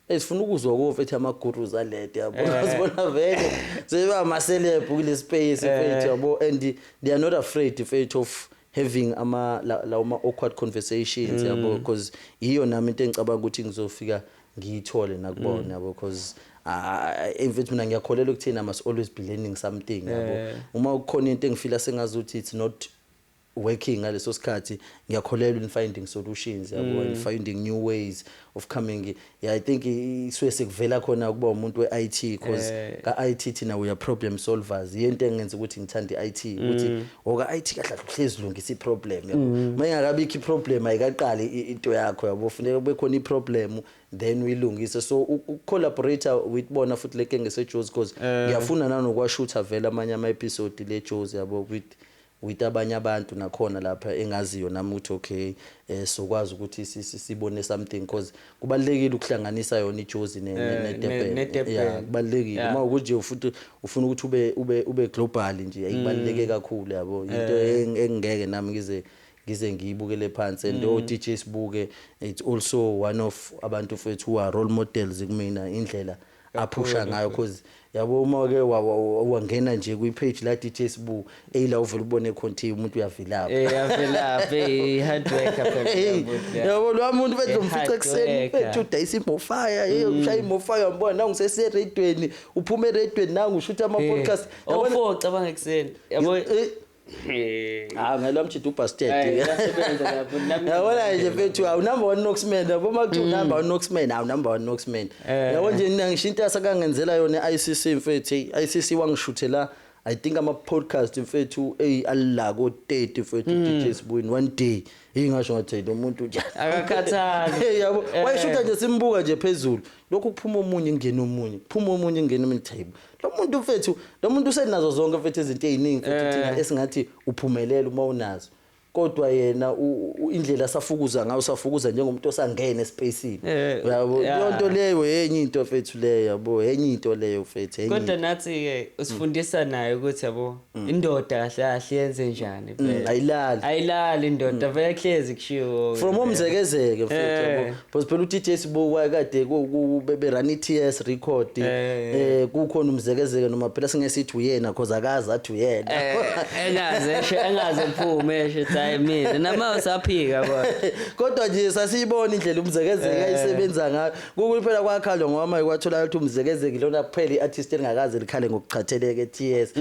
Hey sifuna ukuzwa ukufa ethi ama gurus alede yabo. Eh. Sibona vele seba ama celeb kule space fethu eh. yabo and they are not afraid fethu of having ama la uma awkward conversations mm. yabo because iyo nami into engicabanga ukuthi ngizofika ngiyithole nakubona mm. yabo because emfethu mina ngiyakholelwa ukuthina must always be learning something yabo eh. uma kukhona into engifila sengazi ukuthi it's not working ngaleso sikhathi ngiyakholelwa in finding solutions yabo and finding new ways of coming yeah i think i- isuke sekuvela khona ukuba umuntu we-IT because Eh. ka-IT thina we are problem solvers yiyo into engenza ukuthi ngithande i-IT ukuthi oka-IT kahle kahle uhlezi lungisa i-problem yabo uma ingakabikho i-problem ayikaqali i- into yakho yabo funeka kube khona i-problem then uyilungise so u- ukucollaborator with bona futhi leke ngesejozi because ngiyafuna nanokwashutha vele amanye ama-episode le jozi yabo with With abanye abantu nakhona lapha engaziyo nami ukuthi okay sizokwazi ukuthi sibone something coz kubalulekile ukuhlanganisa yona iJozi ne Durban yeah kubalulekile uma kunje futhi ufuna ukuthi ube ube ube global nje ayibaluleke kakhulu yabo into engeke nami ngize ngize ngiyibukele phansi and o DJ Sibuke it's also one of abantu fethu who are role models kumina indlela aphusha ngayo cause yabo uma wake wa- wa- wa- wangena nje kwi-page la DJ Sbu eyila uvele ubone khona ukuthi umuntu uyavilapha Eh, yavelaphi eh, hard worker phela Hey, uyabuthi, ya. yabo lowa muntu benza Eh, umfica hard ekuseni worker. bethu udayisa imofaya hey ushaya imofaya ngibona nangu seseredweni uphuma eredweni nangu ushutha ama Eh, podcast Yabona- ofoca bangekuseni yabo Eh, hawu ah, ngalo mjida ubasted yabona nje mfethu hawu number one noxman yabo uma kuthiwa hmm. number one noxman hawu number one noxman eh. yabo nje mina ngisho into asakangenzela yona i-ICC mfethu i-ICC wangishuthela I think ama podcast mfethu ey alla ko 30 mfethu hmm. DJ Sibuyini one day ingasho ngathi lo muntu nje akakhathali yabo eh. wayishutha nje simbuka nje phezulu lokhu kuphuma omunye ingena omunye kuphuma omunye ingena omunye table lo muntu mfethu lo muntu usenazo zonke mfethu izinto eziningi mfethu eh. thina esingathi uphumelela uma unazo kodwa yena indlela safukuza ngayo safukuza njengomuntu osangene espacini eh, uyabo yonto leyo yenye into mfethu leyo yabo yenye into leyo mfethu yenye kodwa nathi ke usifundisa naye ukuthi yabo Mm. indoda kahle kahle yenze njani mm, vele ayilali ayilali indoda mm. vele kuhlezi kushiwo from omzekezeke futhi eh. yabo because phela uTJ sibuka kade bebe run iTS record eh, eh, eh kukhona umzekezeke noma phela singesithi uyena because akazi athi uyena engaze eshe engaze kuphume eshe thayi mina nama usaphika kodwa kodwa nje sasiyibona indlela umzekezeke ayisebenza ngayo Kukuyi phela kwakhalwa ngoma ikwathola ukuthi umzekezeki lona kuphela iartist elingakaze likhale ngokuchatheleke TS.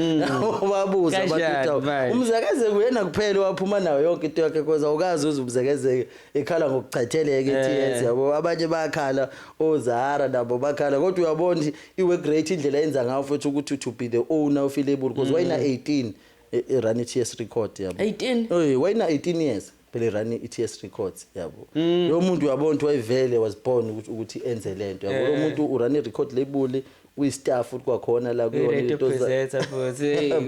Wabuza Kanjani bathetha manje? umzekezeki uyena kuphela waphuma nayo yonke into yakhe because awukazi uze umzekezeki ekhala ngokuchatheleke TS yabo abanye bakhala oZara nabo bakhala kodwa uyabona ukuthi iwe great indlela yenza ngayo futhi ukuthi to be the owner of ilabel because wayina 18 e- e- run TS record yabo 18 Oy, wayina 18 years phela irani i-TS Records yabo mm. lo muntu uyabona ukuthi wayevele was born ukuthi enze lento yabo lo muntu urani record label uyistaff futhi kwakhona la kuyona into presenter futhi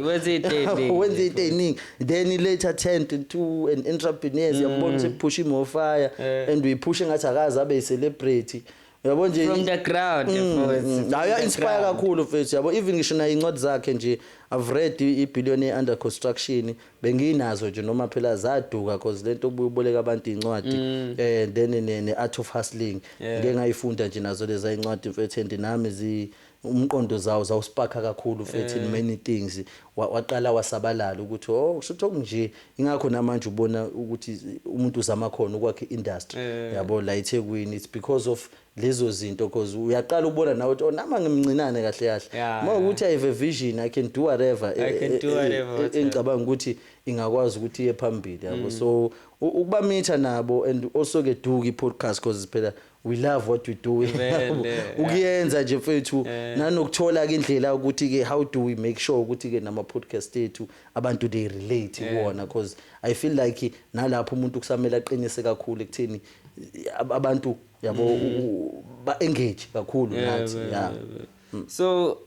wenza izinto wenza izinto eziningi then i later turned into an entrepreneur yabona mm. ukuthi push more fire and we push ngathi akaze abe celebrity yabo nje from the ground mm, hayi mm, inspire kakhulu mfethu yabo even ngisho nayo incwadi zakhe nje i've read ibillionaire under construction benginazo nje noma phela zaduka cause lento ububoleka abantu incwadi mm. eh then ne art of hustling ngeke ngayifunda nje nazo leza incwadi mfethu and nami zi Umqondo zawu zawu sparker kakhulu mfethu in many things wa waqala wasabalala ukuthi oh kushuthi okunje ingakho namanje ubona ukuthi umuntu uzama khona ukwakha industry yabo la eThekwini it's because of lezo zinto cause uyaqala ubona nawe ukuthi oh nama ngimncinane kahle kahle Yeah, uma ukuthi i have a vision i can do whatever I can do whatever, whatever. engicabanga ukuthi ingakwazi ukuthi iye phambili yabo so u- ukubamitha nabo and also ke duke i-podcast cause phela we love what we doing ukuyenza nje mfethu eh. nanokuthola ke indlela ukuthi ke how do we make sure ukuthi ke nama podcast ethu abantu they relate eh. kuwona because i feel like nalapho umuntu kusamela aqinise kakhulu ekutheni abantu yabo mm. ba engage kakhulu nathi yeah mm. so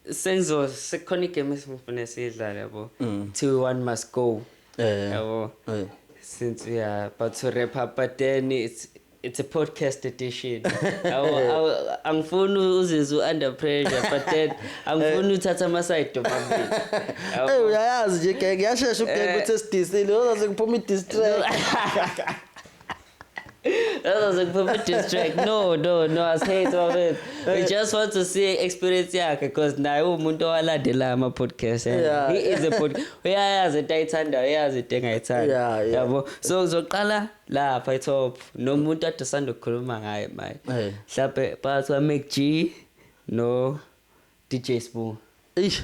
Senzo sekukhona igame esimfune siyidlale yabo. Mm. Kuthiwa one must go. Eh. Yabo. Eh. Since we are about to wrap up but then it's it's a podcast edition angifuni uzizwe u-under pressure but then angifuni uthatha amasayidi omabili eyi uyayazi nje genge yashesha ugenge eh. ukuthi esidisile ozaze kuphuma i-distract That was a perfect distract. No, no, no, I say it of it. We just want to see experience yakhe because naye umuntu owalandela ama podcast. Yeah. Yeah. He is a pod. Uyayazi into ayithanda, uyayazi into engayithanda. Yeah, yeah. Yabo. So uzoqala lapha top nomuntu ade sanda ukukhuluma ngaye manje. Eh. Mhlawumbe phakathi kwa Mac G no DJ Sbu. Eish.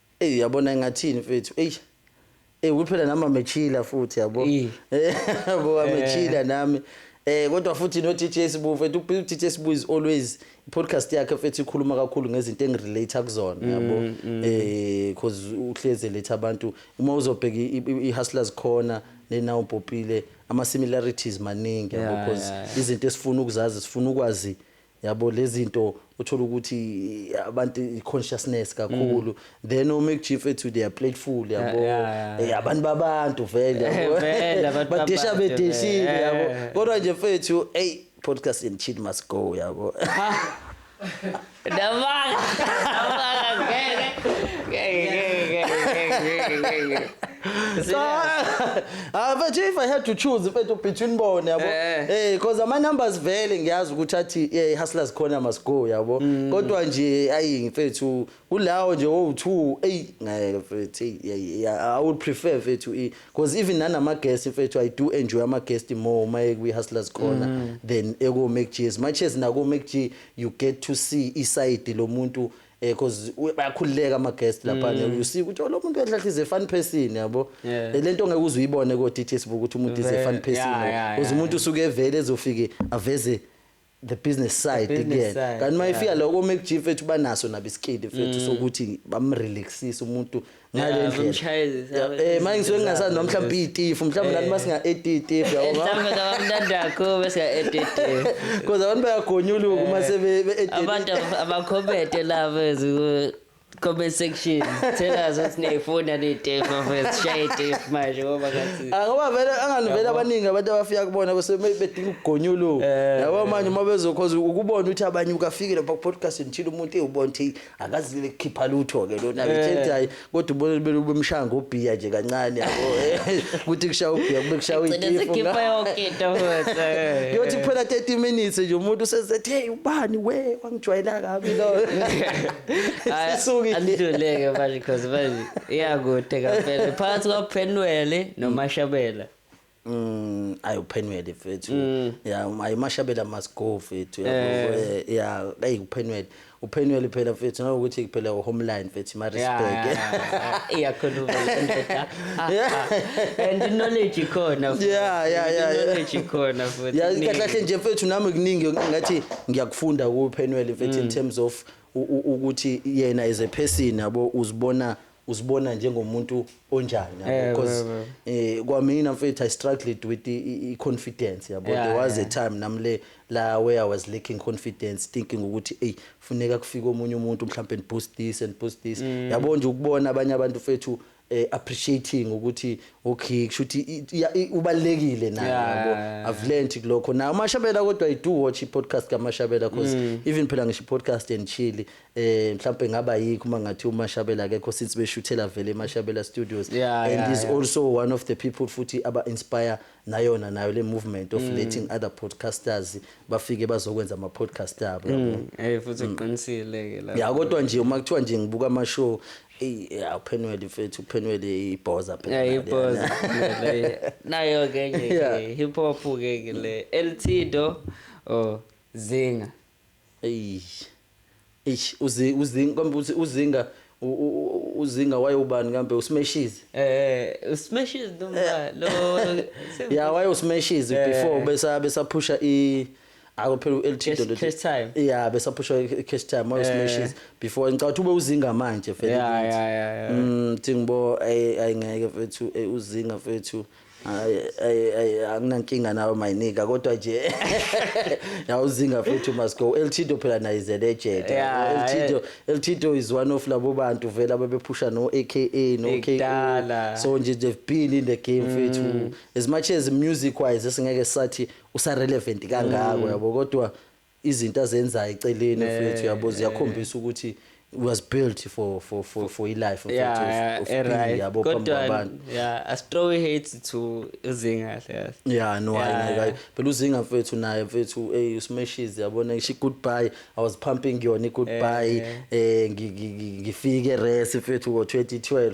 Eyi uyabona ngathini mfethu. Eyi. Eh ukuthi phela nami amechila futhi yabo. Eh. Yabo eh. amechila nami. Eh kodwa futhi no DJ Sibu mfethu uDJ Sibu is always podcast yakhe mfethu ikhuluma kakhulu ngezinto engirelate kuzona mm, yabo. Mm. Eh because uhleze letha abantu uma uzobheka iHustlers khona nena uPopile ama similarities maningi yabo because izinto esifuna ukuzazi sifuna ukwazi Yabo lezinto uthola ukuthi abantu consciousness kakhulu mm. then o make chief ethu they are playful yabo yeah, yeah, yeah. Eh, abantu babantu vele yabo badisha bedishile yabo kodwa nje fethu hey podcast and chill must go yabo Dabanga. Dabanga ngeke. Ngeke ngeke ngeke ngeke. Ah but if I had to choose mfethu between bona yabo. Eh. Eh because ama numbers vele ngiyazi ukuthi athi eh hustlers khona must go yabo. Mm. Kodwa nje ayi mfethu kulawo nje owu2 ey ngeke mfethu ey yeah, I would prefer mfethu i because even nanama guests mfethu I do enjoy ama guests more uma ekwi hustlers khona mm. than eko Mac G. As much as nako Mac G you get to see iside lomuntu eh cause u- bayakhululeka ama guest lapha Mm. mm. you see ukuthi oh, lo muntu enhlahle is a fun person yabo Yeah. Eh, lento ngeke uze uyibone ko DT sibuka ukuthi umuntu is a Vele, fun person yeah, yeah, uze yeah, umuntu usuke evele ezofike aveze the business side business again side, kanti mayifika yeah. lokho mekujif ethu banaso nabisikidi fethu Mm. sokuthi bamrelaxise umuntu ngalendlela manje ngisuke ngingasazi noma mhlawumbe iyitifu mhlawumbe nani masinga etitif yabo mhlawumbe ngabamntandakho besinga etitif kodwa abantu bayagonyuluka uma sebe abantu abakhomete labo comment section tell us what's name phone and it if of us share it if manje ngoba ngathi ngoba vele anganivela abaningi abantu abafika kubona bese bedinga ukugonyuluka eh. yabo manje uma bezokhoza ukubona ukuthi abanye ukafikile pa podcast ngithile umuntu eyubona ukuthi akazile kukhipha lutho ke lona Eh. ngithe hayi kodwa ubona bele ubemshaya ngobhiya nje kancane yabo Eh, kuthi kushaya ubhiya kube kushaya Gcine uyitifu sikhipha yonke into futhi. yothi kuphela 30 minutes nje umuntu usezethe hey ubani we wangijwayela kabi lo Hayi, sisukile Andiduleke manje cause manje iyakude kampela. Phakathi kwaPhenwele noMashabela. Mm, ayi uphenwele mfethu mm. ya um, ayi mashabela must go mfethu ya eh. eh, ya ayi uphenwele uphenwele phela mfethu nokuthi kuphela uhomeline mfethu ma respect iyakhuluma ndoda ah, ah. and knowledge ikhona yeah yeah yeah knowledge ikhona futhi ya kahle kahle nje mfethu nami kuningi ngathi ngiyakufunda kuphenwele mfethu in mm. terms of ukuthi yena as a person yabo uzibona uzibona njengomuntu onjani yabo Yeah, because yeah, eh kwamina mfethu i struggled with the i- i- confidence yabo Yeah, there was a yeah. time nami le la where i was lacking confidence thinking ukuthi ey funeka kufike omunye umuntu mhlawumbe and boost this and boost this Mm. yabo nje ukubona abanye abantu fethu eh, appreciating ukuthi okay kushuthi i- iya- i- ubalekile naye Yeah, yabo yeah, yeah. I've learned kulokho na umashabela kodwa i do watch i podcast kamashabela because Mm. even phela ngisho i podcast and chili eh mhlambe ngaba yikho uma ngathi uMashabela akekho since beshuthela vele eMashabela Studios yeah, and yeah, is yeah. also one of the people futhi aba inspire nayona nayo le movement of mm. letting other podcasters bafike bazokwenza ama podcast abo yabo mm. eh futhi mm. uqinisile ke la ya kodwa nje uma kuthiwa nje ngibuka ama show eh uphenwele mfethu uphenwele ibhoza phela yeah ibhoza nayo ke nje hip hop ke le LT do oh zinga Eish. Eish uzi uzi kambe uthi uzinga u- u- u- uzinga wayobani kambe usimeshizi. Eh usimeshizi Eh. noma lo Ya waye usimeshizi Eh. before besa besaphusha i Awu phela uLT Cash- Dondoti. cash time. Eh. Yeah besaphusha i- cash time waye usimeshizi before ngicabanga ukuthi ube uzinga manje vele. Ya kithi. ya ya. ya. Mm thingibo ay ayingeke mfethu eh, uzinga mfethu Hayi hayi hayi anginankinga nawe mayinika kodwa nje yawuzinga futhi must go El Chido phela naye is a legend Yeah, El Chido El Chido is one of labo bantu vela bebephusha no AKA no KO Ekudala. so nje they've been in the game fethu as much as music wise singeke sathi usa relevant kangako yabo kodwa Izinto azenzayo eceleni mfethu yabo ziyakhombisa ukuthi was built for for for for ilife mfethu yeah, of, of right. yabo phambi kwabantu yeah a straw hate to uzinga kahle yeah no yeah, I, yeah. phela uzinga mfethu naye mfethu hey usmeshes yabona ngisho goodbye i was pumping yona goodbye eh ngifike rest mfethu ngo 2012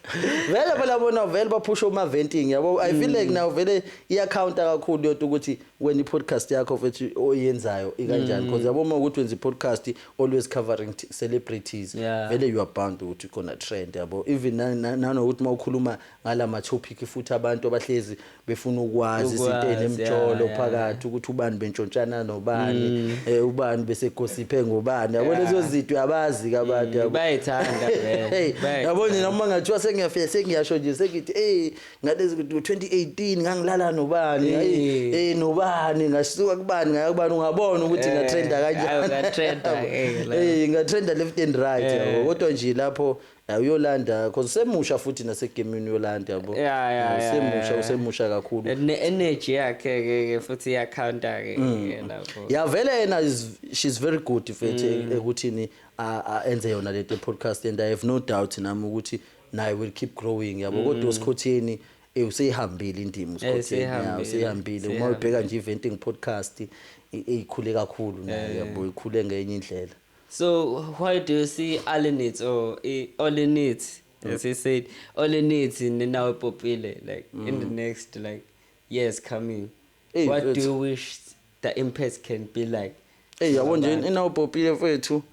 vele phela bona vele baphusha uma venting yabo i feel like mm. now vele iya counter kakhulu yodwa ukuthi wena podcast yakho futhi oyenzayo ikanjani because mm. yabo uma ukuthi wenza podcast always covering celebrities vele you are bound ukuthi khona trend yabo even nanokuthi uma ukhuluma ngalama topic futhi abantu abahlezi befuna ukwazi izinto ezinemjolo phakathi ukuthi ubani bentshontshana nobani mm. eh ubani bese gossiphe ngobani yabo lezo zinto uyabazi kabantu yabo mm, bayithanda vele yabo nje noma ngathiwa sengiyafika sengiyasho nje sengithi eh ngalezi 2018 ngangilala nobani eh. eh nobani ngasuka kubani ngaya kubani ungabona ukuthi eh, ngatrenda kanjani ngatrenda eh ngatrenda left and right yabo eh. kodwa nje lapho Ya uyolanda cause usemusha futhi nasegemini uyolanda yabo. Yeah, yeah, yeah, Usemusha yeah. usemusha kakhulu. Ne energy yakhe ke ke futhi iya counter ke Mm. ke lapho. Ya vele yena is she's very good mfethu Mm. ekuthini a- a- enze yona le podcast and I have no doubt nami ukuthi naye will keep growing Mm. yabo kodwa usikhotheni eh useyihambile indima usikhotheni ya seyihambile, useyihambile uma seyihambile. ubheka nje eventing podcast i- ikhule kakhulu naye yabo ikhule ngenye indlela. So why do you see Alinitz or Olinitz, as he said, Olinitz in Ninawe Popile, like mm. in the mm. next like years coming? Hey, what it's... do you wish the impact can be like? Hey, yabo nje Ninawe Popile mfethu.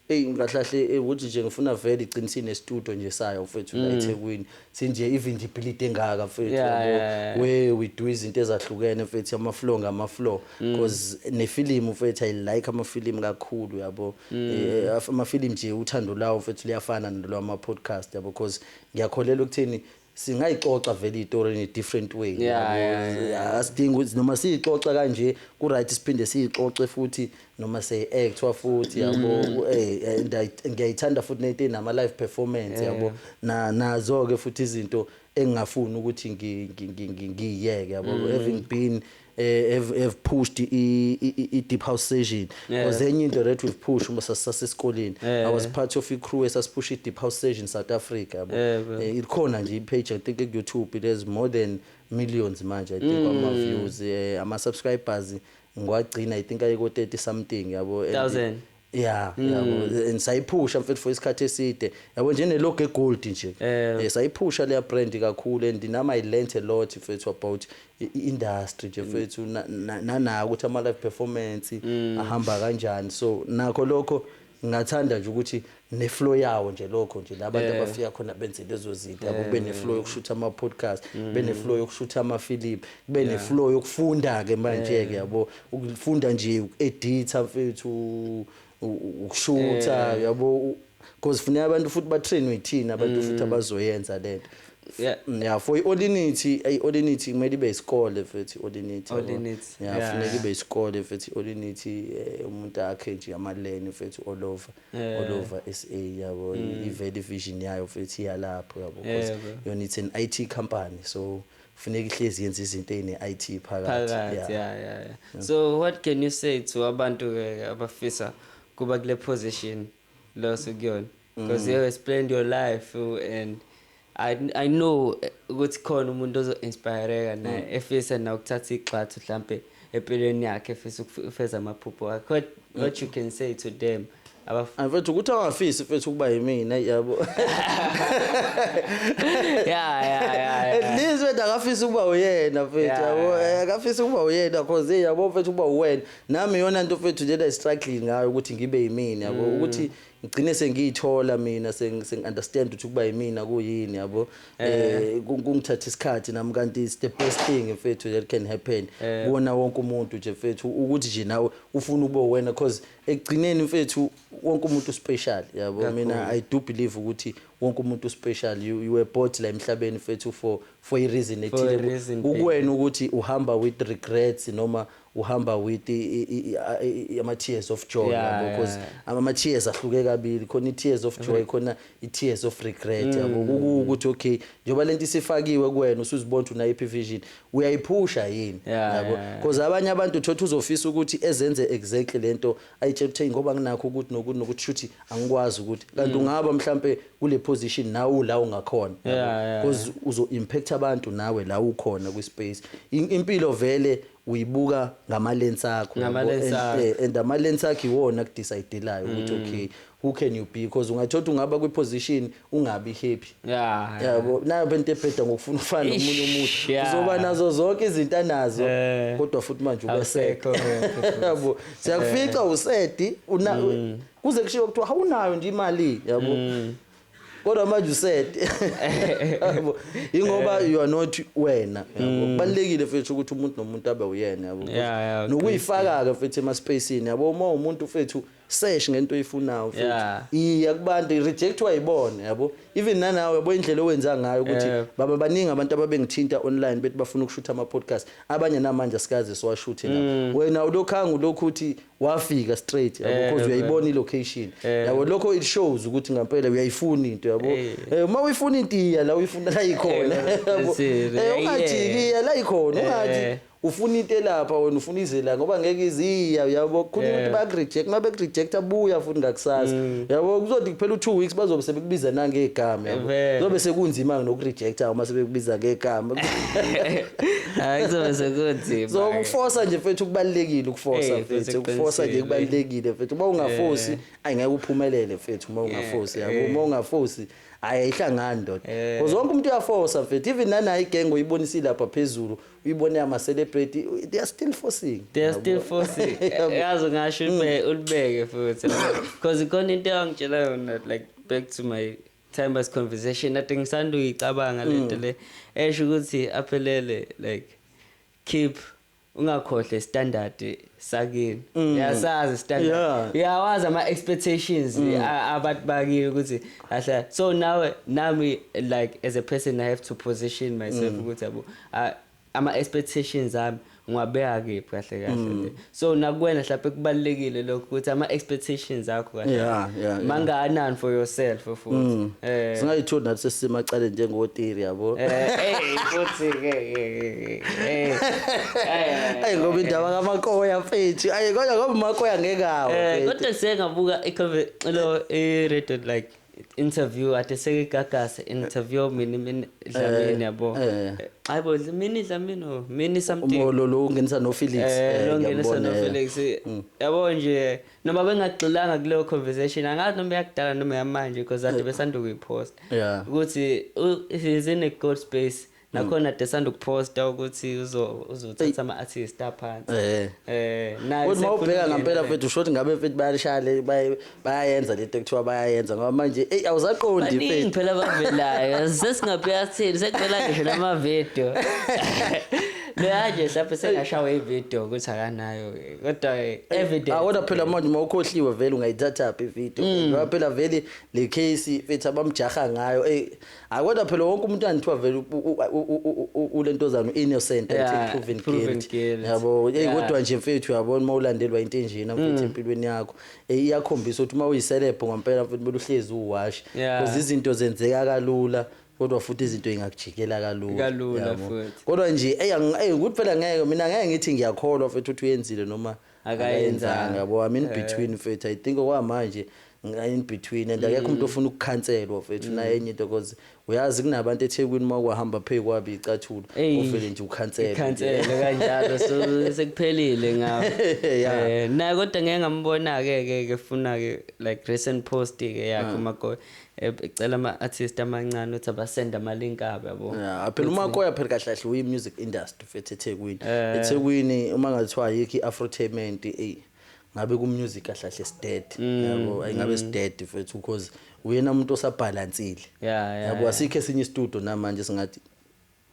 Hey, ngahlahle ukuthi nje ngifuna vele igcinisini estudio nje sayo mfethu la mm. eThekwini. sinje ivindibility engaka mfethu yeah, yeah. we we do izinto ezahlukene mfethu ama flow ngama flow mm. because mm. ne film mfethu i like ama film kakhulu yabo mm. eh, ama film nje uthando lawo mfethu liyafana nalo ama podcast yabo because ngiyakholelwa ukuthini singayixoxa vele itori in a different way asidingi ukuthi noma siyixoxa kanje ku-right siphinde siyixoxe futhi noma se eh kuthiwa futhi yabo mm. eh, eh ngiyayithanda futhi nento nama live performance yabo eh. na nazo ke futhi izinto engingafuni ukuthi ngiyeke yabo mm. having been eh, have, have pushed i deep house session because enye into that we've pushed uma sasesikoleni i was part of i crew esasiphusha i deep house session south africa yabo ikhona nje i page i think ku youtube it has more than millions manje i think mm. ama views ama subscribers ngiwagcina i think ayiko 30 something yabo and- Thousand. yeah yabo and sayiphusha mfethu for isikhathi eside yabo nje ne logo egold nje Eh. Eh, sayiphusha leya brand kakhulu and nami i learnt a lot mfethu about i- i- industry nje mfethu na- na- nanako ukuthi ama live performance ahamba kanjani so nakho lokho ngathanda nje ukuthi neflow yawo nje lokho nje la bantu Yeah. abafika khona benze lezo zinto yabo kube neflow yokushutha ama-podcast kube neflow yokushutha amafilimu kube neflow yokufunda-ke manje-ke yabo ukufunda nje uku-editha mfethu u- u- ukushutha yabo u- because funeka abantu futhi batrainwe yithina abantu futhi abazoyenza le nto Yeah. Mm, ya for i-olinity ayi olinity kumele ibe isikole futhi olinity yabo. Olinity, ya yeah. funeka ibe isikole futhi olinity eh, umuntu akhe nje amaleni futhi all over yeah. all over sa yabo mm. ivele ivision yayo futhi iyalapho yabo because yeah, yona it's an it company so funeka ihlezi yenza izinto ezine-it phakathi yeah. Yeah, yeah, yeah. Mm. so what can you say to abantu ke abafisa kuba kule position loso kuyona because mm. you explained your life and I, I know eh, ukuthi khona umuntu ozo-inspireka naye mm. efisa na ukuthatha igxathu mhlampe empilweni yakhe efisa ukufeza amaphupho wakhe what, mm. what you can say to them mfethu ukuthi awafisi mfethu ukuba yimina yabo at least mfethu akafisi ukuba uyena mfethu yabo eh, akafisi ukuba uyena cause hey yabo mfethu ukuba uwena nami yona nto mfethu lena i-struggling ngayo ukuthi ngibe yimina yabo mm. ukuthi ngigcine sengiyithola mina sengi-understand ukuthi ukuba yimina kuyini yabo eh kungithatha isikhathi nami kanti it's the best thing mfethu that can happen kuwona wonke umuntu nje mfethu ukuthi nje nawe ufuna ube wena because ekugcineni mfethu wonke umuntu special yabo mina i do believe ukuthi wonke umuntu special you, you were bought la emhlabeni mfethu for for a reason ethile kuwena ukuthi uhamba with regrets noma uhamba with ama tears of joy yeah, yabo because yeah. ama tears ahluke kabili khona i tears of joy mm-hmm. khona i tears of regret mm. yabo mm. ukuthi okay njengoba lento isifakiwe kuwena usuzibona ukuthi una iphi vision uyayiphusha yini yabo because abanye abantu uthothi uzofisa ukuthi ezenze exactly lento ayitshela ukuthi ngoba nginakho ukuthi nokuthi nokuthi shuthi angikwazi ukuthi kanti mm. ungaba mhlambe kule position nawe la ungakhona because uzo impact abantu nawe la ukhona kwi space impilo vele uyibuka ngama lens akho Ngama yabo, lens and, akho. eh, and ama lens akho iwona akudecide-layo ukuthi okay who can you be because ungathola ukuthi ungaba kwi position ungabi happy Yeah. yabo nayo bento ebheda ngokufuna ukufana Eish, nomunye umuntu yeah. uzoba nazo zonke izinto anazo Eh. kodwa futhi manje Awusekho ubesede happy futhi. yabo siyakufica usedi una kuze kushiwo kuthiwa awunayo nje imali yabo kodwa manje usede yabo ingoba you are not wena yabo kubalekile futhi ukuthi umuntu nomuntu abe uyena yabo Mm. Yeah, yeah, nokuyifaka ke futhi ema spacing yabo uma umuntu futhi sesh ngento oyifunayo futhi Yeah. iya kubantu rejectwa yibona yabo even nanawe yabo indlela owenza ngayo ukuthi Yeah. baba baningi abantu ababengithinta online bethi bafuna ukushutha ama podcast abanye namanje asikaze siwashuthe la wena ulokhanga ulokhu uthi wafika straight yabo Eh, because uyayibona i location Eh. yabo lokho it shows ukuthi ngampela uyayifuna into yabo Eh. Eh, uma uyifuna into iya la uyifuna la ikhona Eh, yabo that's it. Eh, ungajiki Yeah. iya la ikhona Eh. ungathi ufuna into elapha wena ufuna izela ngoba ngeke iziya yabo khona Yeah. Mm. umuntu baku reject uma beku reject abuya futhi ngakusasa yabo kuzothi kuphela u 2 weeks bazobe sebekubiza nangegama yabo Vele. zobe sekunzima noku rejecta uma sebekubiza ngegama hayi kuzobe sekunzima so ukufosa nje mfethu kubalekile ukufosa Eh, mfethu mfethu ukufosa nje eqinisile. kubalekile mfethu uma ungafosi ayi ngeke uphumelele mfethu uma ungafosi Eh, yabo eh. uma ungafosi hayi ayihlangani ndoda Eh. because wonke umuntu uyafosa mfethu even nanayi gang uyibonisile lapha phezulu uyibone ama celebrity they are still forcing They are still forcing. Yabo. Yazi ngasho ube ulibeke futhi. Because ikhona into eyangitshela yona like back to my timeless conversation ade ngisanda uyicabanga mm. lento le esho ukuthi aphelele like keep ungakhohle standard sakini mm. yasazi standard uyawazi ama expectations mm. abantu bakini ukuthi ahla so now nami like as a person i have to position myself ukuthi yabo ama expectations ami ngiwabeka kephi kahle kahle mm. nje so nakuwena mhlawumbe kubalekile lokho ukuthi ama expectations akho kahle yeah, yeah, mangakanani for yourself futhi mm. eh singayithola nathi sesima cale njengotiri yabo eh, eh futhi ke eh, eh, eh ayi ngoba indaba kamakoya mfethu ayi kodwa ngoba makoya ngekawo eh kodwa sengabuka i lo i radio like interview ade seke gagase interview mina mina dlamini eh, yabo eh. hayibo mina dlamini oh, mina something umolo lo ungenisa no Felix eh, lo ungenisa no Felix mm. yabo nje noma bengagxilanga kuleyo conversation angazi noma yakudala noma yamanje because ade besanda ukuyipost ukuthi is in a good space nakhona de sanda ukuphosta ukuthi uzo- uzothatha ama-artist aphansi Eh. Eh, naye Kodwa uma ubheka sekukhona ngampela ingane. mfethu usho ukuthi ngabe mfethu bayalishaya le baye- bayayenza lento ekuthiwa bayayenza ngoba manje eyi awusaqondi baningi mfethu phela abavelayo sesingabheka sithini sekuvela ngisho namavidiyo leyanje hlampe sengashawa ividiyo ukuthi akanayo kodwa eh, evidence Ah, kodwa phela manje uma ukhohliwe vele ungayithathaphi ividiyo ngoba phela vele le case mfethu abamjaha ngayo eyi hayi kodwa phela wonke umuntu anithiwa vele u- u- u- u- u- ulentozana u-innocent Yeah, until proven proven guilty guilty. yabo eyi Yeah. Mm. kodwa nje mfethu yabona uma ulandelwa into enjena mfethu empilweni yakho eyi iyakhombisa ukuthi uma uyiselebho ngempela mfethu kumele uhlezi uwashi Yeah. because izinto zenzeka kalula kodwa futhi izinto ingakujikela kalula Kalula yabo. futhi. kodwa nje eyi angi- eyi ukuthi phela ngeke mina ngeke ngithi ngiyakholwa mfethu ukuthi uyenzile noma akayenzanga bo I'm in eh. between mfethu I think okwamanje in between and akekho umuntu mm. ofuna ukukhanselwa mfethu mm. naye enye into because uyazi kunabantu eThekwini uma kwahamba phezu kwabi icathulo uvele nje ukhansela ukhansela kanjalo so sekuphelile ngawo eh na kodwa ngeke ngambona ke ke ke funa ke like recent post ke yakhe ah. umagoya ecela ama-artist amancane ukuthi abasende ama-link abo yabo Ya, phela umakoya phela kahle kahle uyi-music industry fethu ethekwini Eh. ethekwini uma ngathiwa ayikho i-afrotainment eyi ngabe ku-music kahle kahle sidead Mm, yabo ayi ngabe sidead fethu because uyena umuntu osabhalansile ya ya yabo asikho esinye istudio namanje singathi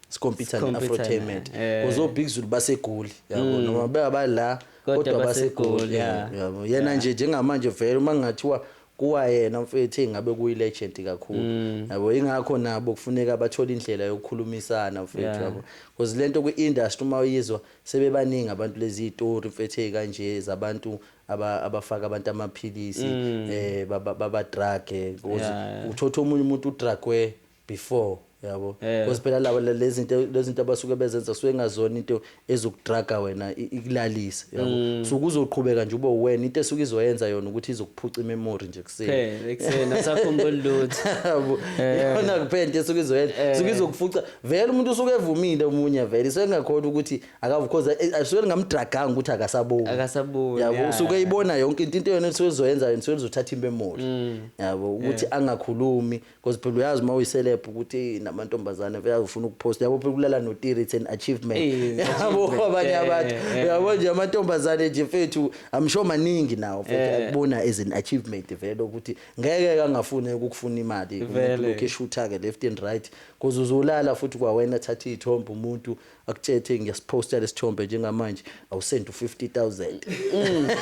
sikompyutha ne-afrotainment because obig zulu basegoli yabo mm. noma bebabala kodwa basegoli yabo yena nje njengamanje vele uma kungathiwa kuwayena mfethu engabe kuyilegend kakhulu mm. yabo ingakho nabo kufuneka bathole indlela yokukhulumisana mfethu yabo because lento kwi industry uma uyizwa sebebaningi abantu lezi story mfethu ezikanje zabantu abafaka abantu amaphilisi mm. eh baba drug eh, because uthotha omunye umuntu udrug we before yabo Eh. because phela laba le- lezinto lezinto abasuke bezenza kusuke ngazona into ezokudraga wena i- ikulalise Mm. yabo so kuzoqhubeka nje ube wena into esuke izoyenza yona ukuthi izokuphuca imemory nje kuseni phela ekuseni asakhumbuli lutho yabo Eh. yona kuphela into esuke izoyenza suke izokufuca vele umuntu usuke evumile omunye vele suke ngakhona ukuthi akavu because asuke ngamdraganga ukuthi akasaboni Akasaboni, yabo yeah. usuke eyibona yonke into into yona esuke izoyenza yona usuke izothatha imemory Mm. yabo ukuthi angakhulumi Because phela uyazi uma uyiselebhu ukuthi eyi namantombazane vele azofuna ukuposta yabo phela ukulala notiri it's an achievement Eh, yabo achievement, abanye eh, abantu eh, eh. yabo nje amantombazane nje mfethu I'm sure maningi nawo mfethu Eh. akubona as an achievement vele ukuthi ngeke kangafune ukufuna imali Vele. lokhu eshutha-ke left and right because uzolala futhi kwawena thatha iy'thombe umuntu Akutshethe ngiyasiphosta lesithombe njengamanje awusend u 50000.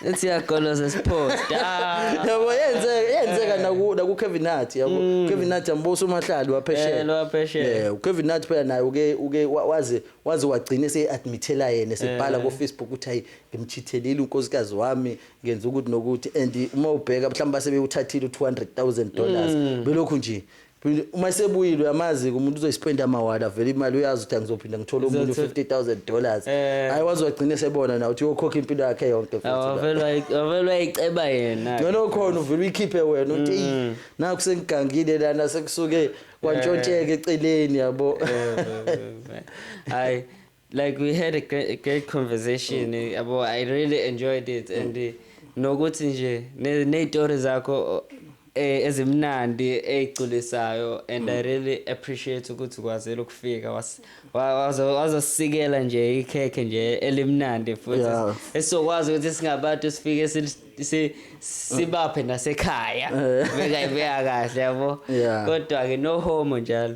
Ethi yagoloza siphosta. Yabo yenze yenzeka naku naku Kevin Hart yabo. Kevin Hart ambuso umahlali waphesheya. Eh, lwaphesheya. Yeah, uKevin Hart phela naye uke uke wa- waze waze wagcina eseadmithela yena esebhala Eh. ku Facebook ukuthi hayi ngimchithelile unkosikazi wami ngenza ukuthi nokuthi and uma ubheka mhlawumbe base bewuthathile u 200,000 dollars Mm. belokhu nje Phinde uma esebuyile uyamazi ke umuntu uzoyispenda amawala vele imali uyazi ukuthi angizophinda ngithole umuntu Uzothi- 50000 dollars. Eh. Hayi wazi wagcina esebona na uthi uyokhokha impilo yakhe yonke futhi. la. Awavelwa awavelwa iceba yena. Ngcono khona uvele uyikhiphe wena uthi "Eyi, naku sengigangile lana sekusuke kwantshontsheke eceleni yabo. Hayi like we had a great, great conversation eh, yabo i really enjoyed it and eh, nokuthi nje ne- ney'tori zakho eh, ezimnandi ey'culisayo and i really appreciate ukuthi ukwazile ukufika was- wa- wazo- wazosikela nje ikhekhe nje elimnandi futhi Yeah. esizokwazi ukuthi singabantu sifike sil- si- sibaphe nasekhaya bekayibeka kahle yabo Yeah. kodwa-ke no homo njalo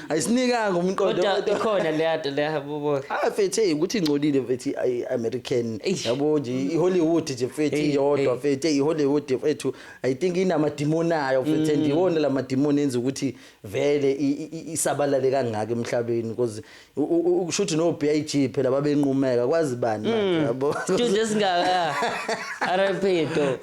ayisinikanga umqondo kodwa kodwa- ikhona leya nto leya bubo Ah fethe ukuthi ingcolile fethe i American Eish. yabo nje i Hollywood nje fethe Hey, iyodwa hey. fethe i Hollywood fethu I think inama demon ayo fethe Mm. ndiwona lama demon enza ukuthi vele i- i- i- isabalale kangaka emhlabeni because u- u- u- ukusho ukuthi no BIG phela babenqumeka kwazi bani Mm. manje yabo studio esingaka RIP to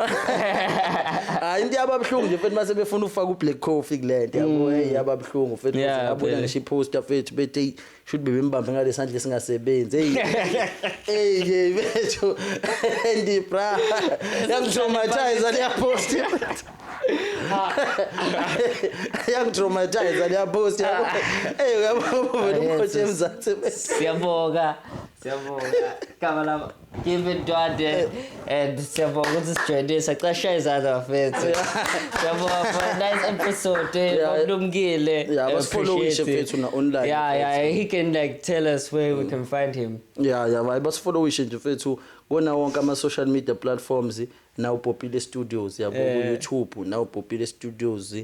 hayi into yababhlungu nje fethu mase befuna ufaka u black coffee kulento yabo hey yababhlungu ubuhlungu fethu Yeah, ngabona vele. ngisho iposter fethu bethi "Eyi, should be bembambe ngale sandla esingasebenzi hey hey hey bethu ndi bra yangitraumatize le post yangitraumatize le post hey uyabona vele umkhothe emzansi bethu siyabonga siyabonga gama lama Give it Dwade and siyabonga ukuthi sijoyine sacasha izandla bafethu. Siyabonga for a nice episode. eh, Yeah. Babulumkile. Yeah, I basifollowishe appreciate it. mfethu na online, Yeah, mfethu. yeah, he can like tell us where we can find him. ya ya bayi basifollowishe nje mfethu kona wonke ama-social media platforms nawubhopile studios yabo Eh. ku-youtube nawubhopile studios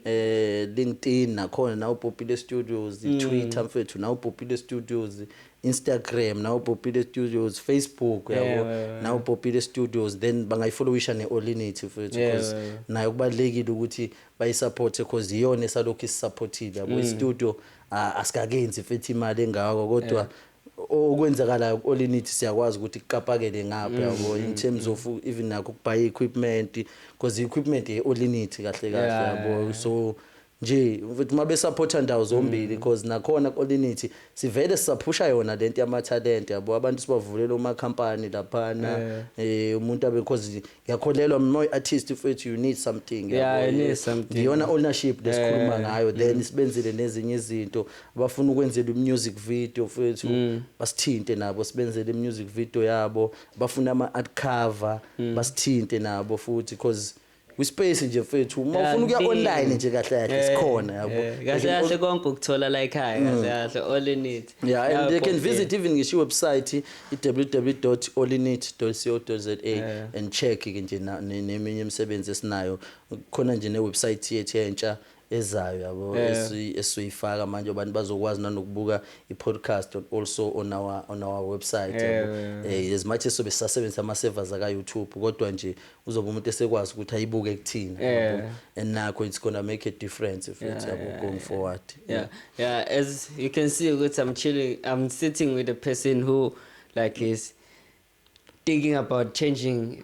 eh linkedin nakhona nawubhopile studios Mm. twitter mfethu nawubhopile studios Instagram nawo Popile Studios, Facebook yabo yeah, yeah, yeah. nawo Popile Studios then bangayifollowisha neOlinity futhi yeah, because yeah, yeah. nayo kubalekile ukuthi bayisupport because iyona esalokhu isupportile yabo mm. istudio asikakenzi futhi imali engako kodwa yeah okwenzakalayo ku-olinity siyakwazi ukuthi kuqapakele ngapha mm, yabo in mm, terms mm. of even nakho ukubhaye i-equipment because i-equipment ye-olinity kahle kahle yabo so Nje mfethu uma besaphotha ndawo zombili because nakhona kolinithi sivele sisaphusha yona lento yamathalente yabo abantu sibavulela uma company laphana eh umuntu abe because ngiyakholelwa mina uyi artist mfethu you need something Yeah, you need something. ngiyona ownership lesikhuluma ngayo then sibenzele nezinye izinto abafuna ukwenzela music video mfethu basithinte nabo sibenzele music video yabo bafuna ama art cover basithinte nabo futhi because kwispace nje mfethu uma ufuna ukuya online nje kahle kahle eh, sikhona yabo eh, kahle kahle konke ukuthola la ekhaya kahle mm. kahle all in it yeah and they can visit even ngisho website www.allinit.co.za eh. and check ke nje neminye imisebenzi esinayo khona nje ne website yethu entsha ezayo yabo esizoyifaka manje abantu bazokwazi nanokubuka i-podcast also on our, on our website yabo um as much esobe sisasebenzisa ama-servers aka-youtube kodwa nje uzobe umuntu esekwazi ukuthi ayibuke kuthina yabo and nakho it's gonna make a difference futhi yabo going forward yeah. yeah as you can see ukuthi i'm chilling i'm sitting with a person who like is thinking about changing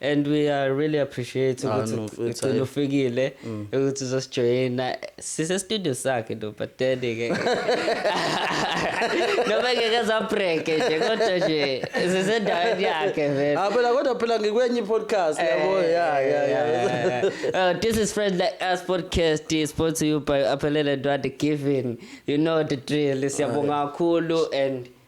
and we are really appreciate ah, ukuthi no, ufikile mm. ukuthi uzosijoyina sisestudio sakhe ndo but then ke noma ngeke zabreke nje kodwa nje sisendaweni yakhe vele ah phela kodwa phela ngikwenye i-podcast eh, yabo ya ya ya oh, this is friends like us podcast is brought to you by aphelele ndwande giving you know the drill siyabonga ah, kakhulu and